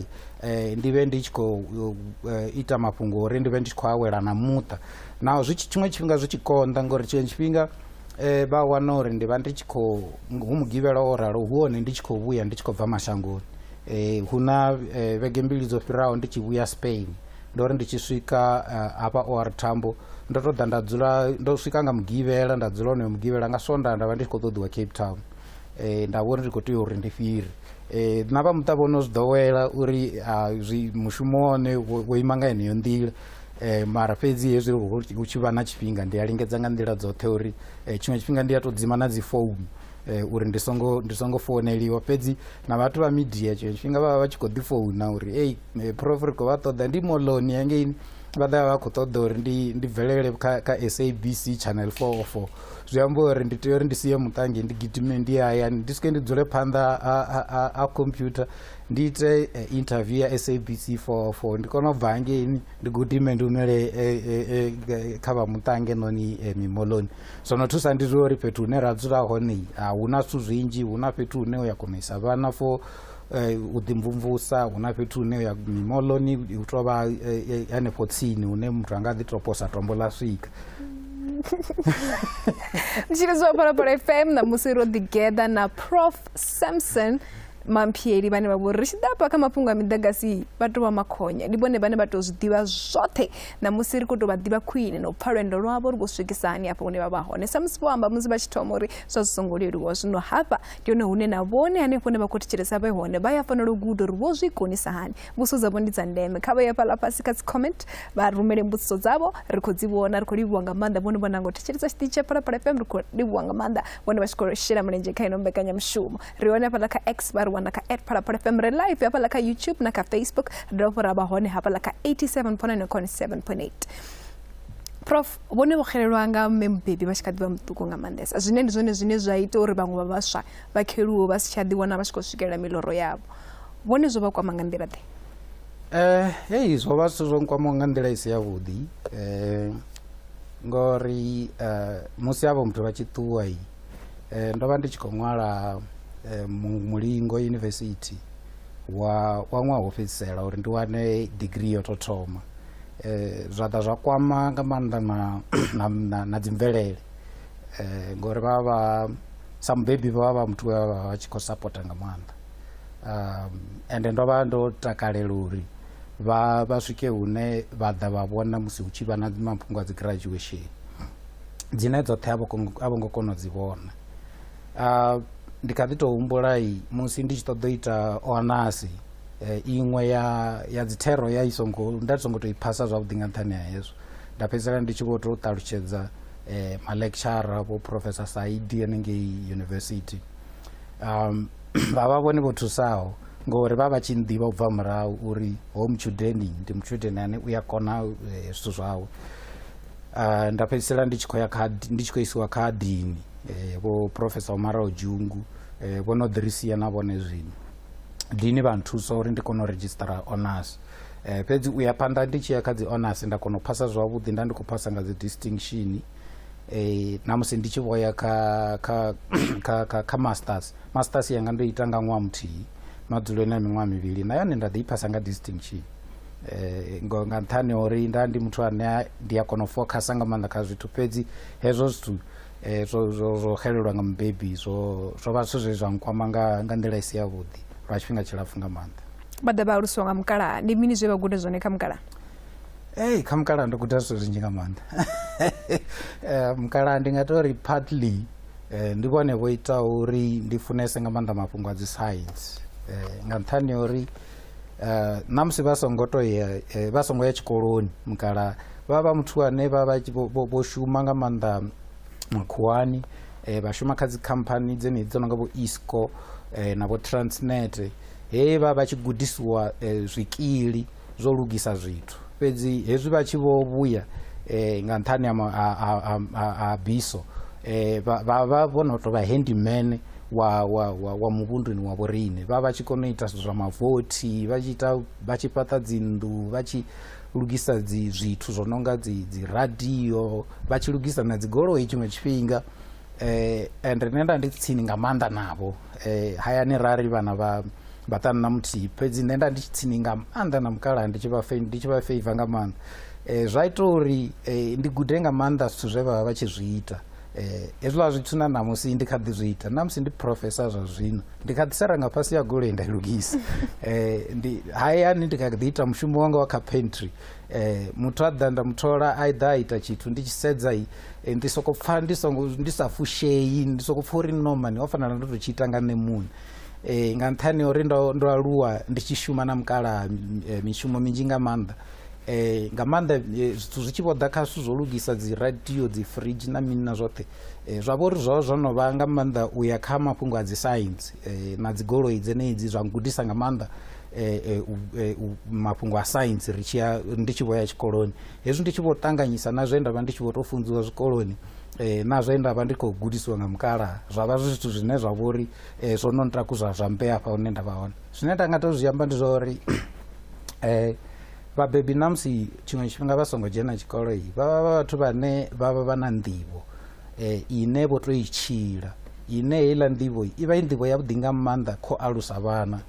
eh, ndi vhe ndi tshi khou eh, ita mafhungo uri ndi vhe ndi tshi khou awela na muṱa naho zwi tshi tshiṅwe tshifhinga zwi tshi konḓa ngori tshiṅwe tshifhinga um vha wana uri ndi vha ndi tshi khou hu mugivhela o ralo hu hone ndi tshi khou vhuya ndi tshi khou bva mashangoni um hu na eh, vhege mbili dzo fhiraho ndi tshi vhuya spain ndo ri ndi tshi swika eh, hafha or thambo ndo to ḓa nda dzula ndo swika nga mugivhela nda dzula onoyo mugivhela nga sonda nda vha ndi tshi khou ṱoḓiwa cape town um nda vhori ndi khou tea uri ndi fhiri um na vha muṱa vhono zwi ḓowela uri ah, zwi mushumo wone wo ima nga heneyo nḓila Eh, mara fhedzi hezwi hu tshi vha na tshifhinga ndi a lingedza nga nḓila dzoṱhe uri eh, tshiṅwe tshifhinga ndi a tou dzima na dzi founu eh, uri ndi songo ndi songo founeliwa fhedzi na vhathu vha midia tshiṅwe tshifhinga vha vha vha tshi khou ḓi founa uri ei eh, prof ri khou vha ṱoḓa ndi moloni hangeini vha ḓa vha khou ṱoḓa uri ndi ndi bvelele kha kha sabc channel four o four zwi amba uri ndi tea uri ndi sie muṱange ndi gidime ndi hayani ndi swike ndi dzule phanḓa ha computer ndi ite uh, interview ya sabc 44 ndi kona u bva hangeini ndi gudime ndi umele eh, eh, eh, kha vha muṱange noni eh, mimoloni zwo no thusa ndi zwa uri fhethu hune ra dzula hone a hu na zwithu zwinzhi hu na fhethu hune u ya kona isa vhana for eh, u ḓimvumvusa hu na fhethu hune u ya mimoloni u tou vha eh, eh, hanefho tsini hune muthu a nga ḓi tou posa tombo ḽa swika tshiri zwa phalaphala fm ṋamusi ro ḓigeḓa na prof samson mamphieli vhane vha vhori ri tshi ḓa kha mafhungo a miḓagasi vha tou vha makhonya ndi vhone vhane vha tou zwi ḓivha zwoṱhe namusi ri khou tou vha ḓivha khwine na u pfa lwendo lwavho ri khou swikisa hani hafha hune vha vha hone samusi vho amba musi vha tshi thoma uri zwa zwi songo leluwa zwino hafha ndi hone hune na vhone hanefho hune vha khou thetshelesa vhe hone vha ya fanela u guda uri vho zwi konisa hani mbudziso dzavho ndi dza ndeme kha vha ya fhaḽa fhasi kha dzicomment vha rumele mbudziso dzavho ri khou dzi vhona ri khou livhuwa nga maanḓa vhone vho nanga u thetshelesa tshiṱitshi tsha phalaphala fm ri khou livhuwa nga maanḓa vhone vha tshi khou shela mulenzhe kha ino mbekanyamushumo ri hone hafhaḽa kha x vha ri wana kha at phalaphala fm ri live hafhaḽa kha youtube na kha facebook ri dovha fho ra vha hone hafhaḽa kha 87 ponani khone 7 point 8 prof vhone vho xelelwa nga mme mubebi vha tshi kha ḓi vha muṱuku nga maanḓesa zwine ndi zwone zwine zwa ita uri vhaṅwe vha vhaswa vha kheluwo vha si tsha ḓiwana vha tshi khou swikelela miloro yavho vhone zwo vha kwama nga nḓila ḓe um hei zwo vha zwithu zwo nkwamaho nga nḓila i si yavhuḓi um ngori um musi havho muthu vha tshi ṱuwa eh, ndo vha ndi tshi khou ṅwala eh, mulingo university wa wa ṅwaha wo fhedzisela uri ndi wane degree yo tou thoma eh, zwa ḓa zwa kwama nga maanḓa na, na, na, na dzimvelele eh, ngori vha vha sa mubebi vha vha muthu we vha vha tshi khou sapota nga maanḓa um, ende ndo vha ndo takalela uri vha vha swike hune vha ḓa vha vhona musi hu tshi vha na mafhungo a dzi graduation dzine dzoṱhe a vho ngo kona u dzi vhona ah, ndi kha ḓi tou humbula musi ndi tshi ṱoḓa u ita onasi eh, iṅwe ya ya dzithero ya i songo nda songo tou i phasa zwavhuḓi nga nṱhani ha hezwo nda fhedzisela ndi tshi vho tou ṱalutshedza eh, malecturer vho professor saidi hanengei university um vha vha vhone vho thusaho ngori vha vha tshi nḓivha u bva murahu uri ho mutshudeni ndi mutshudeni ane u ya kona eh, zwithu zwawe uh, nda fhedzisela ndi tshi khou ya kha ndi tshi khou isiwa kha dini eh, vho profesa omaraho dzhungu eh, vho no ḓirisia na vhone zwino dini vha nthusa uri ndi kone u registera honors eh, fhedzi u ya phanḓa ndi tshi ya kha dzi honors nda kona u phasa zwavhuḓi nda ndi khou phasa nga dzi distinction eh, na musi ndi tshi vho ya kha, kha, kha, kha, kha masters masters yanga ndo ita nga ṅwaha muthihi madzulo na miṅwaha mivhili na yone nda ḓi i phasa nga distinction eh, ngo nga nṱhani ha uri nda ndi muthu ane ndi a kona u fokhasa nga maanḓa kha zwithu fhedzi hezwo zwithu eh, zwo zwo- zwo xelelwa nga mubebi zwo zwo vha zwithu zwe zwa nkwama nga nga nḓila i si yavhuḓi lwa tshifhinga tshilapfu nga maanḓa vha ḓa vha alusiwa nga mukalaha ndi mini zwe vha guda zwone kha mukalaha Hey, kha mukalaha ndo guda zwithu zwinzhi nga maanḓa Eh, mukalaha ndi nga tori partly eh, ndi vhone vho itaho uri ndi funese nga maanḓa mafhungo a dzi science Eh, nga nṱhani ha uri Uh, na musi vha songo to ya eh, vha songo ya tshikoloni mukala vha vha muthu ane vha vha vho shuma nga maanḓa makhuwani eh, vha shuma kha dzikhamphani dzenedzi dzo no nga vho isco eh, na vho transnet he vha vha tshi gudisiwa eh, zwikili zwo lugisa zwithu fhedzi hezwi vha tshi vho vhuya eh, nga nṱhani ha ma- ha- ha- ha- ha- ha biso eh, vha vha vha vho no tou vha handyman wa wa wa, wa muvhunduni wa vhoriṋe vha vha tshi kona u ita zwithu zwa mavothi vha tshi ita vha tshi fhaṱa dzinnḓu vha tshi lugisa dzi zwithu zwo no nga dzi dzi radio vha tshi lugisa na dzigoloi tshiṅwe tshifhinga eh and nṋe nda ndi tsini nga maanḓa navho eh, hayani rari vana va vatanu na muthihi fhedzi nṋe nda ndi tshi tsini nga maanḓa na mukalaha ndi tshi vha fe- ndi tshi vha feiva nga maanḓa eh, zwa ita uri eh, ndi gude nga maanḓa zwithu zwe vha vha vha tshi zwi ita eh, hezwiḽa zwithu na ṋamusi ndi kha ḓi zwi ita ṋamusi ndi profesa zwa zwino ndi kha ḓi sara nga fhasi ya goloi nda i lugisa eh, ndi hayani ndi kha ḓi ita mushumo wanga wa kha pantry eh, muthu a ḓa nda muthola a ḓa a ita tshithu ndi tshi sedza i eh, ndi soko pfa ndi songo ndi sa fushei ndi soko pfa uri no mani ho fanela ndo to tshi ita nga nṋe muṋe eh, nga nṱhani uri ndo ndo aluwa ndi tshi shuma na mukala eh, mishumo minzhi nga maanḓa eh, nga maanḓa eh, zwithu zwi tshi vho ḓa kha zwithu zwo lugisa dzi radio dzi fridge na mini na zwoṱhe eh, zwa vha uri zwo zwo no vha nga maanḓa u ya kha mafhungo a dzi science eh, na dzigoloi dzenedzi zwa ngudisa nga maanḓa eh, eh, eh, mafhungo a saintsi ri tshiya ndi tshi vho ya tshikoloni hezwi ndi tshi vho ṱanganyisa na zwe nda vha ndi tshi vho tou funziwa zwikoloni eh, na zwe nda vha ndi khou gudisiwa nga mukalaha zwa vha zwi zwithu zwine zwa vho ri eh, zwo no ntakuzwa zwa mpe afha hune nda vha hone zwine nda nga tou zwi amba ndi zwa uri eh vhabebi namusi tshiṅwe tshifhinga vha songo dzhena tshikolo iyi vha vha vha vhathu vhane vha vha vha na nḓivho eh, ine vho to i tshila ine heiḽa nḓivho i vha i nḓivho yavhuḓi nga maanḓa kho alusa vhana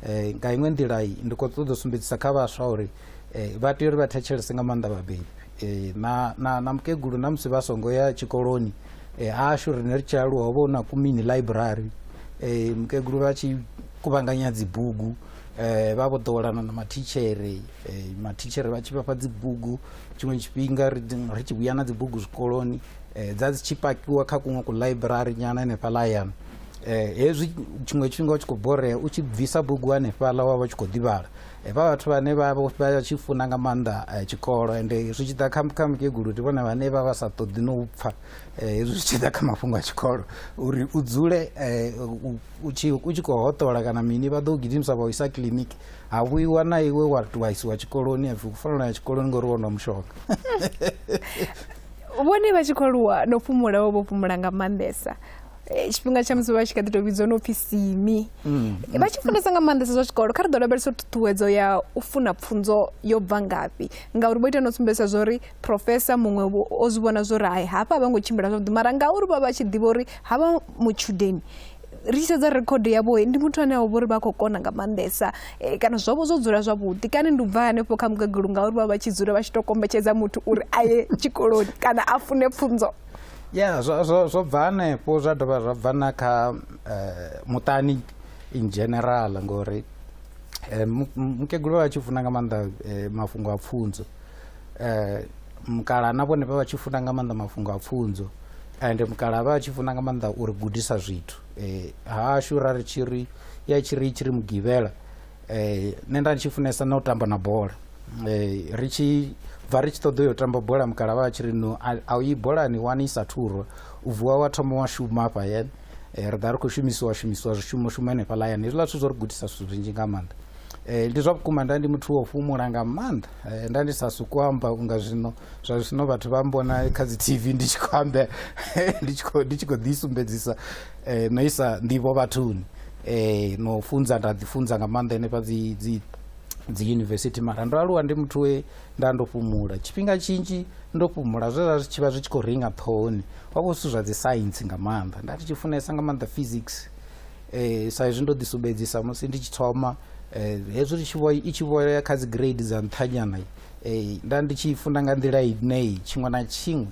eh, nga iṅwe nḓila ndi khou ṱoḓa u sumbedzisa kha vhaswa uri eh, vha tea uri vha thetshelese nga maanḓa vhabebi eh, na, na, na mukegulu na musi vha songo ya tshikoloni eh, ashu rine ri tshi aluwa ho vha hu na kumini library eh, mukegulu vha tshi kuvhanganya dzibugu eh, vha vho ḓowelana na mathitshere eh, mathitshere vha tshi vhafha dzibugu tshiṅwe tshifhinga ri tshi vhuya na dzibugu zwikoloni um dza dzi tshi pakiwa kha kuṅwe kuḽaiburari nyana hanefhaḽa hayani um hezwi tshiṅwe tshifhinga u tshi khou borea u tshi bvisa bugu hanefhaḽa wa vha tshi khou ḓivhala um vha vhathu vhane vha tshi funa nga maanḓa um tshikolo ende zwi tshi ḓa kha kha mukegulu ndi vhone vhane vha vha sa ṱoḓi no u pfha um hezwi zwi tshi ḓa kha mafhungo a tshikolo uri u dzule um u tshi u tshi khou hoṱola kana mini vha ḓo gidimisa vha u isa kiḽiniki ha vhuiwa na iwe wa wa isiwa tshikoloni ha pfi u fanela ya tshikoloni ngori wo nwa mushonga vhone vha tshi khou aluwa no fhumula vho vho fhumula nga maanḓesa Eh, tshifhinga tsha musi vha tshi kha ḓi tou vhidzwa no pfhi simi Mm. vha tshi funesa nga maanḓesa zwa tshikolo kha ri ḓo lavhelesa ṱhuṱhuwedzo ya u funa pfunzo yo bva ngafhi ngauri vho ita no sumbedzisa zwa uri profesa muṅwe o zwi vhona zwo ri hai hafha a vha ngo tshimbila zwavhuḓi mara ngauri vha vha tshi ḓivha uri ha vha mutshudeni ri tshi sedza rekhodo yavho ndi muthu ane a vhori vha khou kona nga maanḓesa eh, kana zwavho zwo dzula zwavhuḓi kana ndi u bva hanefho kha mugagulu ngauri vha vha tshi dzula vha tshi tou kombetshedza muthu uri a ye tshikoloni kana a fune pfunzo ya zwo bva hanefho zwa dovha zwa bva na kha eh, muṱani in general ngori eh, mukegulu vha vha tshi funa nga maanḓa mafhungo a pfunzo eh, mukala na vhone vha vha tshi funa nga maanḓa mafhungo a pfunzo and mukala vha tshi funa nga maanḓa uri gudisa zwithu eh, hashu ra ri tshi ri ya tshi ri tshi ri mugivhela eh, nṋe nda tshi funesa na u tamba na bola eh, ri tshi bva ri tshi ṱoḓa yo tamba bola mukala vha tshi ri no a u yi bolani wani i sa thurwa u vuwa wa thoma wa shuma afha yene eh, ri ḓa ri khou shumisiwa shumisiwa zwishumo shuma henefhaḽa yani hezwiḽa zwithu zwo ri gudisa zwithu zwinzhi nga maanḓa eh, ndi zwa vhukuma nda ndi muthu wa u fhumula nga maanḓa Eh, nda ndi sa suku amba unga zwino zwa zwino vhathu vha mbona kha dzi tv ndi tshi khou amba ndi tshi khou ndi tshi khou ḓisumbedzisa eh, no isa nḓivho vhathuni eh, no funza nda ḓifunza nga maanḓa henefha dzi dzi dzi yunivesithi mara ndo aluwa ndi muthu we nda ndo fhumula tshifhinga tshinzhi ndo fhumula zwe zwa zwi tshi vha zwi tshi khou ringa ṱhohoni wa vho zwithu zwa dzi saintsi nga maanḓa nda ndi tshi funesa nga maanḓa physics eh, sa izwi ndo ḓisumbedzisa musi ndi tshi thoma eh, hezwi ri tshi vho i tshi vhoya kha dzi grade dza nṱhanyana eh, nda ndi tshi funda nga nḓila ineyi tshiṅwe na tshiṅwe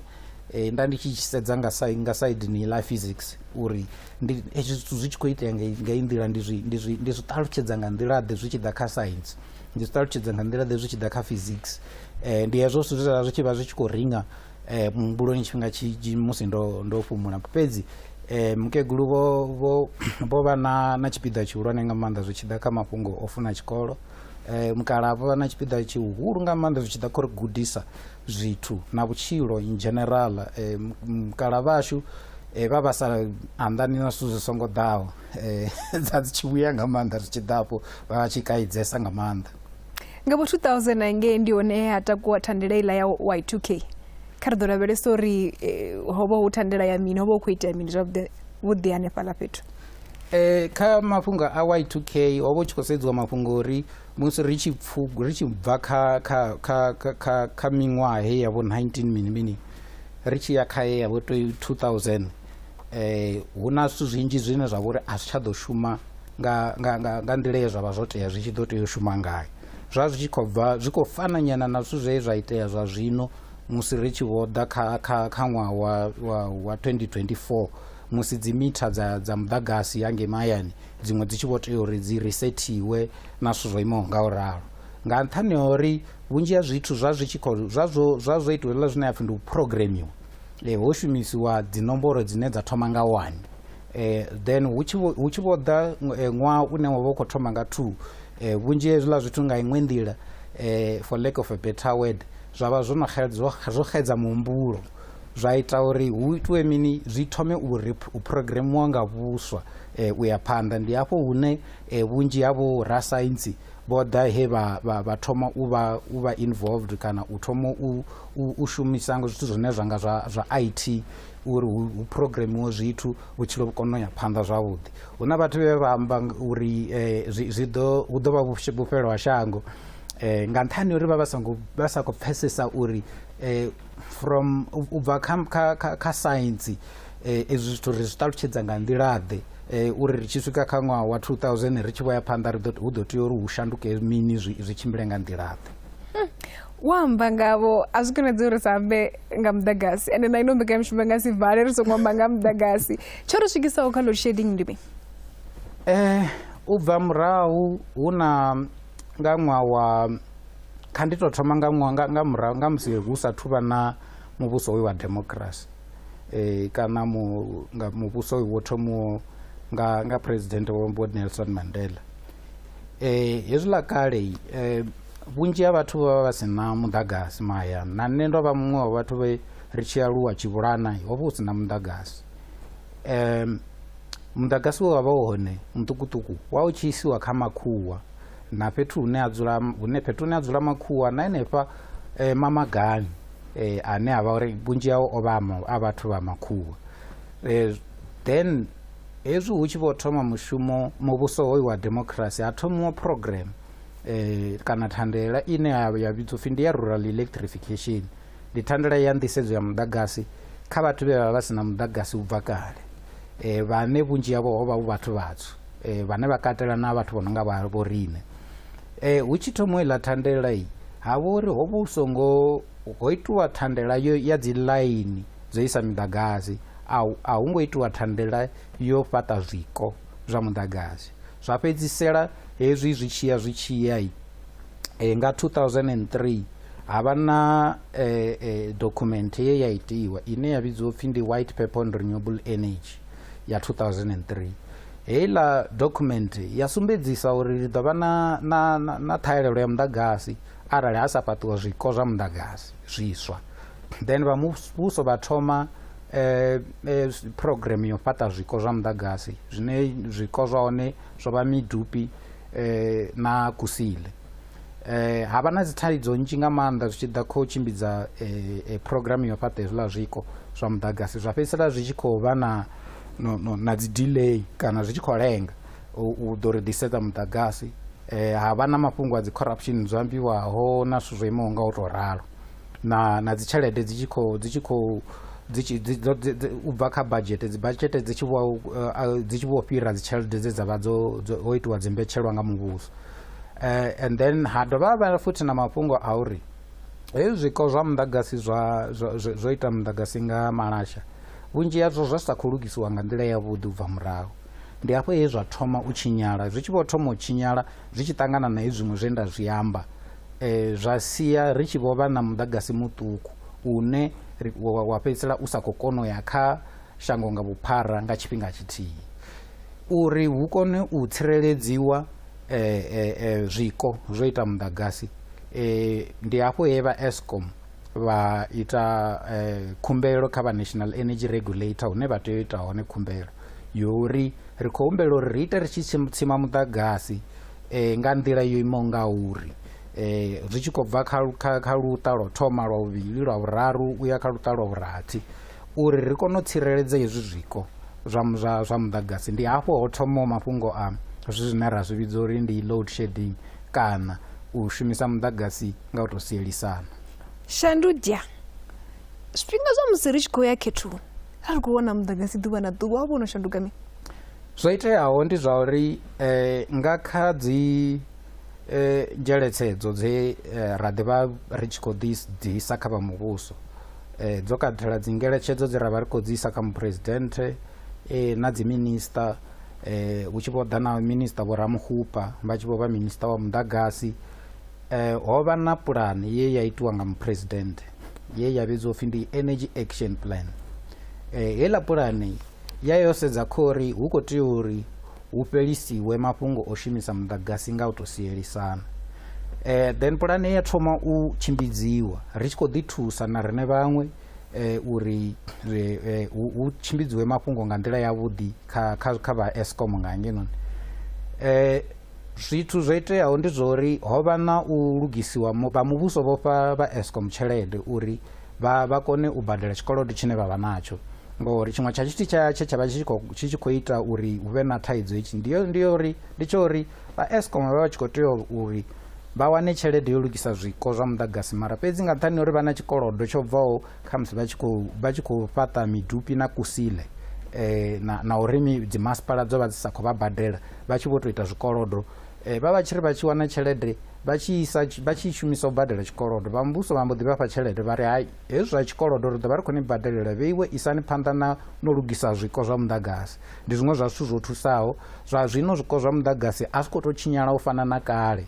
eh, nda ndi tshi tshi sedza nga sa nga side ni la physics uri ndi hezwi zwithu zwi tshi khou itea nga nga i nḓila ndi zwi ndi zwi ndi zwi ṱalutshedza nga nḓila ḓe zwi tshi ḓa kha science ndi zwi ṱalutshedza nga nḓila ḓe zwi tshi ḓa kha physics eh, ndi hezwo zwithu zwe zwa vha zwi tshi vha zwi tshi khou ringa eh, muhumbuloni tshifhinga tshinzhi musi ndo, ndo fhumula fhedzi eh, mukegulu vho, vho, vho vha na, na tshipiḓa tshihulwane nga maanḓa zwi tshi ḓa kha mafhungo o funa tshikolo eh, mukala vho vha na tshipiḓa tshihulu nga maanḓa zwi tshi ḓa kha uri gudisa zwithu na vhutshilo in general eh, mukala vhashu eh, vha vha sa anḓani na zwithu zwi songo ḓaho eh, dza dzi tshi vhuya nga maanḓa zwi tshi ḓa afho vha vha tshi kaidzesa nga maanḓa nga vho 2009 ngei ndi hone he ha takuwa thandela iḽa ya y2k kha ri ḓo lavhelesa uri eh, ho vha hu thandela ya mini ho vha hu khou itea mini zwavhuḓi vhuḓi hanefhaḽa fhethu Eh, kha mafhungo a y2k ho vha hu tshi khou sedziwa mafhungo uri musi ri tshi pfugu ri tshi bva kha kha kha kha kha, kha miṅwaha he ya vho 19 mini mini ri tshi ya kha ye ya vho 2000 eh hu na zwithu zwinzhi zwine zwa vhori a zwi tsha ḓo shuma nga nga nga nga nḓila ye zwavha zwo tea zwi tshi ḓo tea u shuma ngayo zwa zwi tshi khou bva zwi khou fana nyana na zwithu zwe zwa itea zwa zwino musi ri tshi vho ḓa kha kha kha ṅwaha wa wa wa 2024 musi dzi mitha dza dza muḓagasi ya ngei mahayani dziṅwe dzi tshi vho tea uri dzi resethiwe na zwithu zwo imaho nga u ralo nga nṱhani ha uri vhunzhi ha zwithu zwa zwi tshi khou zwa zwo zwa zwo itiwa hezwiḽa zwine ya pfhi ndi u programmiwa e, ho shumisiwa dzinomboro dzine dza thoma nga one e, then hu tshi vho ḓa e, ṅwaha une wa vha u khou thoma nga two e, vhunzhi hezwiḽa zwithu nga iṅwe nḓila e, for lack of a better word zwa vha zwo no zwo xedza muhumbulo zwa ita uri hu itiwe mini zwi thome u programmiwa nga vhuswa e, u ya phanḓa ndi hafho hune e, vhunzhi havho rasaintsi vho ḓa he vha vha vha thoma u vha u vha involved kana u thoma u u shumisa ngo zwithu zwine zwa nga zwa zwa IT uri hu programiwe zwithu vhutshilo vhu kone u ya phanḓa zwavhuḓi hu na vhathu vhe vha amba uri eh, zwi ḓo hu ḓo vha vhufhelo ha shango eh, nga nṱhani uri vha vha songo vha sa khou pfhesesa uri eh, from u bva kha kha kha science Eh, ezwi zwithu ri zwi ṱalutshedza nga nḓilaḓe eh, uri ri tshi swika kha ṅwaha wa 2000 ri tshi vho ya phanḓa hu ḓo tea uri hu shanduke mini zwi tshimbile nga nḓilaḓe hmm. wo amba ngavho a zwi konadzi uri sa ambe nga muḓagasi ende na ino mbekanyamishumo nga si vale ri songo amba nga muḓagasi tsho ri swikisaho kha load shedding ndi mi eh, u bva murahu hu na nga ṅwaha wa kha ndi tou thoma nga musi hu sa thuvha na muvhuso hoyu wa democracy eh, kana mu, nga muvhuso wo thomiwo nga, nga president vho nelson mandela eh, hezwiḽa kale eh, vhunzhi ha vhathu vha vha vha si na muḓagasi mahayani na nṋe ndo vha muṅwe wa vhathu vhe ri tshi aluwa tshivhulana ho vha hu si na muḓagasi um muḓagasi we wa vha u hone muṱukuṱuku wa u tshi isiwa kha makhuwa na fhethu hune a dzula hune fhethu hune a dzula makhuwa na henefha eh, mamagani eh, ane a vha uri vhunzhi hao o vha a ma- a vhathu vha makhuwa eh, then hezwi hu tshi vho thoma mushumo muvhuso hoyu wa democracy ha thomiwa program eh, kana thandela ine ya ya vhidzwa upfi ndi ya rural electrification ndi thandela ya nḓisedzo ya muḓagasi kha vhathu vhe vha vha si na muḓagasi u bva kale e, vhane vhunzhi havho ho vha vhu vhathu vhatswu e, vhane vha katela na vhathu vho no nga vha vho riṋe e, hu tshi thomo iḽa thandela i ha vha uri ho vha hu songo ho itiwa thandela yo ya dzi ḽaini dzo isa miḓagasi a hu ngo itiwa thandela yo fhaṱa zwiko zwa muḓagasi zwa fhedzisela hezwi zwi tshiya zwi tshiya eh, nga 2003 ha vha na eh, eh, document ye ya itiwa ine ya vhidziwa upfi ndi white paper on renewable energy ya 2003 heiḽa document ya sumbedzisa uri ri ḓo vha na, na, na, na ṱhahelelo ya muḓagasi arali ha sa fhaṱiwa zwiko zwa muḓagasi zwiswa then vha muvhuso vha thoma eh, eh, program yo fhaṱa zwiko zwa muḓagasi zwine zwiko zwa hone zwo vha midupi eh, na kusile eh, ha vha na dzithaidzo nnzhi nga maanḓa zwi tshi ḓa khou tshimbidza eh, eh, programu yo fhaṱa hezwiḽa zwiko zwa muḓagasi zwa fhedzisela zwi tshi khou vha na, no, no, na dzi delay kana zwi tshi khou lenga u u ḓo ri ḓisedza muḓagasi eh, ha vha na mafhungo a dzi corruption dzo ambiwaho na zwithu zwo imaho nga u tou ralo na na dzi tshelede dzi tshi khou dzi tshi khou dzi tshi dzi dzo- dzi- dzi- u bva kha budget dzi budget dzi tshi vho uh, dzi tshi vho fhira dzi tshelede dze dza vha dzo dzo- ho itiwa dzi mbetshelwa nga muvhuso Eh, and then ha dovha ha vha futhi na mafhungo a uri hezwi zwiko zwa muḓagasi zwa zwa- zwa- zwo ita muḓagasi nga malasha vhunzhi hazwo zwa sa khou lugisiwa nga nḓila yavhuḓi u bva murahu ndi hafho he zwa thoma u tshinyala zwi tshi vho thoma u tshinyala Zwi tshi ṱangana na hezwiṅwe zwe nda zwi amba, zwa sia ri tshi vho vha na muḓagasi muṱuku une wa fhedzisela u sa khou kona u ya kha shango nga vhuphara nga tshifhinga tshithihi. Uri hu kone u tsireledziwa zwiko zwo ita muḓagasi, ndi hafho he vha Eskom vha ita khumbelo kha vha National Energy Regulator hune vha tea u ita hone khumbelo. Yuri, Ri khou humbela uri ri ite ri tshi tsima muḓagasi eh, nga nḓila yo imaho nga uri eh, zwi tshi khou bva kha, kha, kha luṱa lwa thoma lwa vhuvhili lwa vhuraru u ya kha luṱa lwa vhurathi uri ri kone u tsireledza hezwi zwiko zwa, zwa, zwa muḓagasi ndi hafho ho thomaho mafhungo a zwi zwine ra zwi vhidza uri ndi load shedding kana u shumisa muḓagasi nga u tou sielisana Shandudia, Zwifhinga zwa musi ri tshi khou ya khethoni a ri khou vhona muḓagasi ḓuvha na ḓuvha wa vhono shanduka mi zwo iteaho ndi zwa uri eh, nga kha dzi eh, dzheletsedzo dze eh, ra ḓivha ri tshi khou ḓisa kha vha muvhuso eh, dzo katela dzi ngeletshedzo dze ra vha ri khou dzi kha muphuresidennde eh, na dziminista eh, hu tshi vho ḓa na minista vho ramuhupa vha tshi vho vha minista wa muḓagasi eh, ho vha na pulani ye ya itiwa nga muphuresidennde ye ya vhidzwa upfi ndi energy action plan eh, heiḽa pulani ya yo sedza khori hu khou tea uri hu fhelisiwe mafhungo o shumisa muḓagasi nga u tou sielisana eh, then pulani ya thoma u tshimbidziwa ri tshi khou ḓi thusa na rine vhaṅwe eh, uri eh, eh, hu eh, tshimbidziwe mafhungo nga nḓila yavhuḓi kha, kha, kha vha escom nga hangenoni eh, Zwithu zwo iteaho ndi zwa uri ho vha na u lugisiwa, vha muvhuso vho fha vha Eskom tshelede uri vha vha kone u badela tshikolodo tshine vha vha natsho ngori tshiṅwe tsha tshithu tsha tshe tsha vha tshi khou tshi tshi khou ita uri hu vhe na thaidzo hetshi ndi yo ndi yo uri ndi tsho uri vha Eskom vha vha tshi khou tea uri vha wane tshelede yo lugisa zwiko zwa muḓagasi mara fhedzi nga nṱhani uri vha na tshikolodo tsho bvaho khamusi vha tshi khou vha tshi khou fhaṱa midupi na kusile um na, na uri dzimasipala dzo vha dzi sa khou vha badela vha tshi vho tou ita zwikolodo eh, vha vha tshi ri vha tshi wana tshelede vha tshi isa vha tshi shumisa u badela tshikolodo vha muvhuso vha mbo ḓi vhafha tshelede vha ri hai hezwi zwa tshikolodo ri ḓo vha ri khou ni badelela vheiwe isani phanḓa na no lugisa zwiko zwa muḓagasi ndi zwiṅwe zwa zwithu zwo thusaho zwa zwino zwiko zwa muḓagasi a zwi khou tou tshinyala u fana na kale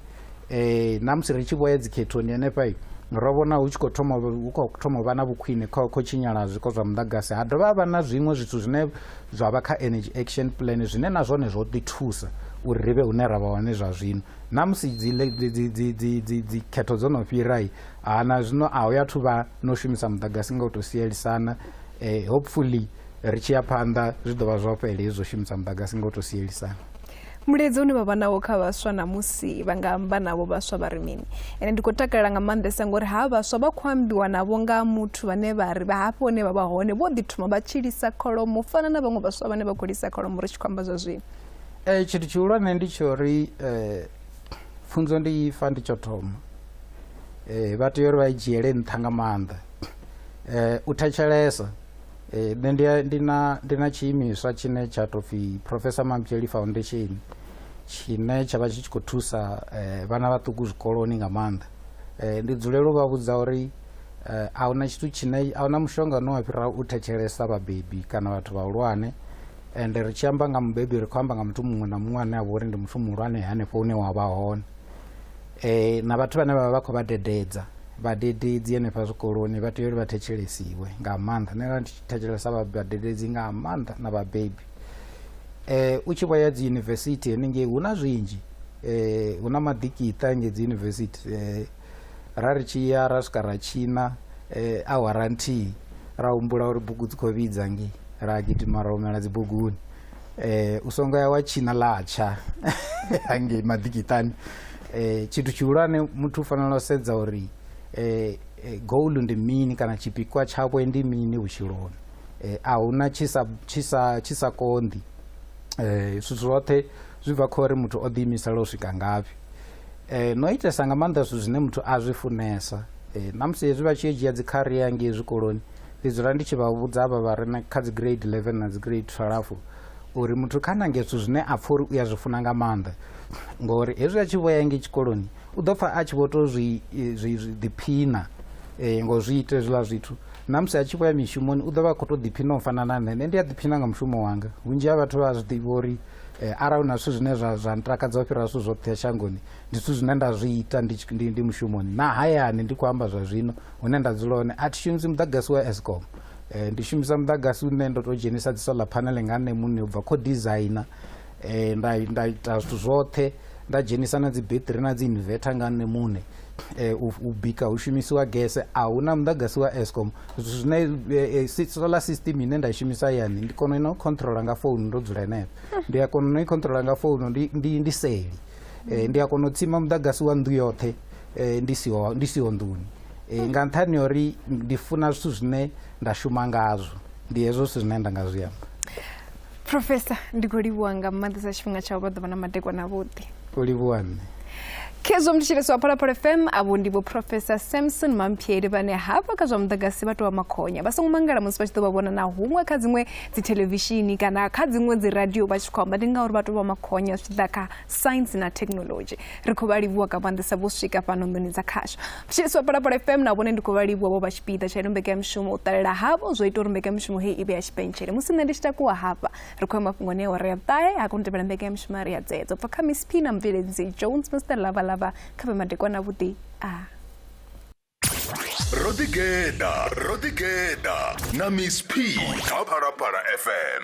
eh, na musi ri tshi vho ya dzikhethoni henefha ro vhona hu tshi khou thoma hu khou thoma u vha na vhukhwine kho kho tshinyala zwiko zwa muḓagasi ha dovha ha vha na zwiṅwe zwithu zwine zwa vha kha energy action plan zwine na zwone zwo ḓi thusa uri ri vhe hune ra vha hone zwa zwino na musi dzikhetho dzo no fhirai ha na zwino a hu ya thu vha no shumisa muḓagasi nga u tou sielisana um hopefully ri tshi ya phanḓa zwi ḓo vha zwo fhele hezwo shumisa muḓagasi nga u tou sielisana Mulaedza une vha vha nawo kha vhaswa ṋamusi vha nga amba navho vhaswa vha ri mini? Ende ndi khou takalela nga maanḓesa ngori ha vhaswa vha khou ambiwa navho nga muthu vhane vha ri vha hafho hune vha vha hone vho ḓi thoma vha tshi lisa kholomo u fana na vhaṅwe vhaswa vhane vha khou lisa kholomo ri tshi khou amba zwa zwino. Eh, tshithu tshihulwane ndi tsho ri eh, pfunzo ndi ifa ndi tsho thoma eh, vha tea uri vha i dzhiele nṱha nga maanḓa eh, u thetshelesa Eh, nṋe ndi ndi na ndi na tshiimiswa tshine tsha tou pfhi professor mampieli foundation tshine tsha vha tshi tshi khou thusa eh, vhana vhaṱuku zwikoloni nga maanḓa eh, ndi dzulela u vha vhudza uri eh, a huna tshithu tshine a huna mushonga une wa fhira u thetshelesa vhabebi kana vhathu vhahulwane ende ri tshi amba nga mubebi ri khou amba nga muthu muṅwe na muṅwe ane a vha uri ndi muthu muhulwane hanefho hune wa vha hone E, na vhathu vhane vha vha vha khou vha dededza vhadededzi henefha zwikoloni vha tea uri vha thetshelesiwe nga maanḓa nṋe ndi thetshelesa vhadededzi nga maanḓa na vhabebi eh u tshi vho ya dzi university henengei hu na zwinzhi eh hu na maḓikiṱa nge dzi university eh ra ri tshi ya ra swika ra tshina eh awara nthihi ra humbula uri bugu dzi khou vhidza nge ra gidima ra humela dzibuguni eh, u songo ya wa tshina latsha hangei maḓikitani eh, tshithu tshihulwane muthu u fanela u sedza uri eh, eh, goal ndi mini kana tshipikwa tshawe ndi mini vhutshiloni eh, a huna tshisa tshisa tshisa konḓi eh zwithu zwoṱhe zwi bva khori muthu o ḓiimisela u swika ngafhi eh no itesa nga maanḓa zwithu zwine muthu a zwi funesa eh namusi hezwi vha tshi yo dzhia dzi career ngei zwikoloni Ndi dzula ndi tshi vha vhudza avha vha re kha dzi grade 11 na dzi grade 12 uri muthu kha nange zwithu zwine a pfha uri u a zwi funa nga maanḓa ngori hezwi a tshi vho ya ngei tshikoloni u ḓo pfha a tshi vho tou zwi ḓiphina um ngo zwi ita hezwiḽa zwithu na musi a tshi vho ya mishumoni u ḓo vha a khou tou ḓiphina u fana na nṋe nṋe ndi a ḓiphina nga mushumo wanga vhunzhi ha vhathu vha zwi ḓivha uri um arali hu na zwithu zwine zwa zwa ntakadza u fhira zwithu zwoṱhe shangoni ndi zwithu zwine nda zwi ita ndi mushumoni na hayani ndi khou amba zwa zwino hune nda dzula hone a thi shumisi muḓagasi wa escom um ndi shumisa muḓagasi une ndo tou dzhenisa dzi solar panel nga nṋe muṋe u bva kho designer um nda nda ita zwithu zwoṱhe nda dzhenisa na dzi battery na dzi inverter nga nṋe muṋe um u bika hu shumisiwa gese a hu na muḓagasi wa escom zwithu zwine eh, eh, solar system ine nda shumisa yani ndi kona ino controla nga founu ndo dzula henefho hmm. ndi a kona no i controla nga founu ndi, ndi, ndi seli eh, ndi a kona u tsima muḓagasi wa nnḓu yoṱhe eh, ndi siho ndi siho nḓuni eh, nga nṱhani uri ndi funa zwithu zwine nda shuma ngazwo ndi hezwo zwithu zwine nda nga zwi amba profesa ndi khou livhuwa nga maanḓesa tshifhinga tsha u vha ḓuvha na madekwana avhuḓi u livhuwa nṋe khezwo mthetshelesi wa phalaphala fm avho ndi vho profesa samson mampieri vhane hafha kha zwa muḓagasi vha tou vha makhonya vha songo mangala musi vha tshi ḓo vha vhona na huṅwe kha dziṅwe dzi thelevishini kana kha dziṅwe dzi radio vha tshi khou amba ndi ngauri vha tou vha makhonya zwi ḓa kha science na technology ri khou vha livhuwa nga maanḓesa vho swika fhano nḓuni dza khasho vhashiliswa palapala fm na vhone ndi khou vha livhuwa vho vha tshipiḓa tsha ino mbekanyamushumo u ṱalela havho zwo ita uri mbekanyamushumo heyi i vhe ya tshipentshele musi nṋe ndi tshi takuwa hafha ri khou ya mafhungoni a ore ya vhuṱahe ha koni tevhela mbekanyamushumo a ri ya dzedzo bva kha miss p na mubveledzi jones mr lavalava kha vhe madekwana vhuḓi a ah. ro ḓigeḓa ro ḓigeḓa na miss p kha phalaphala fm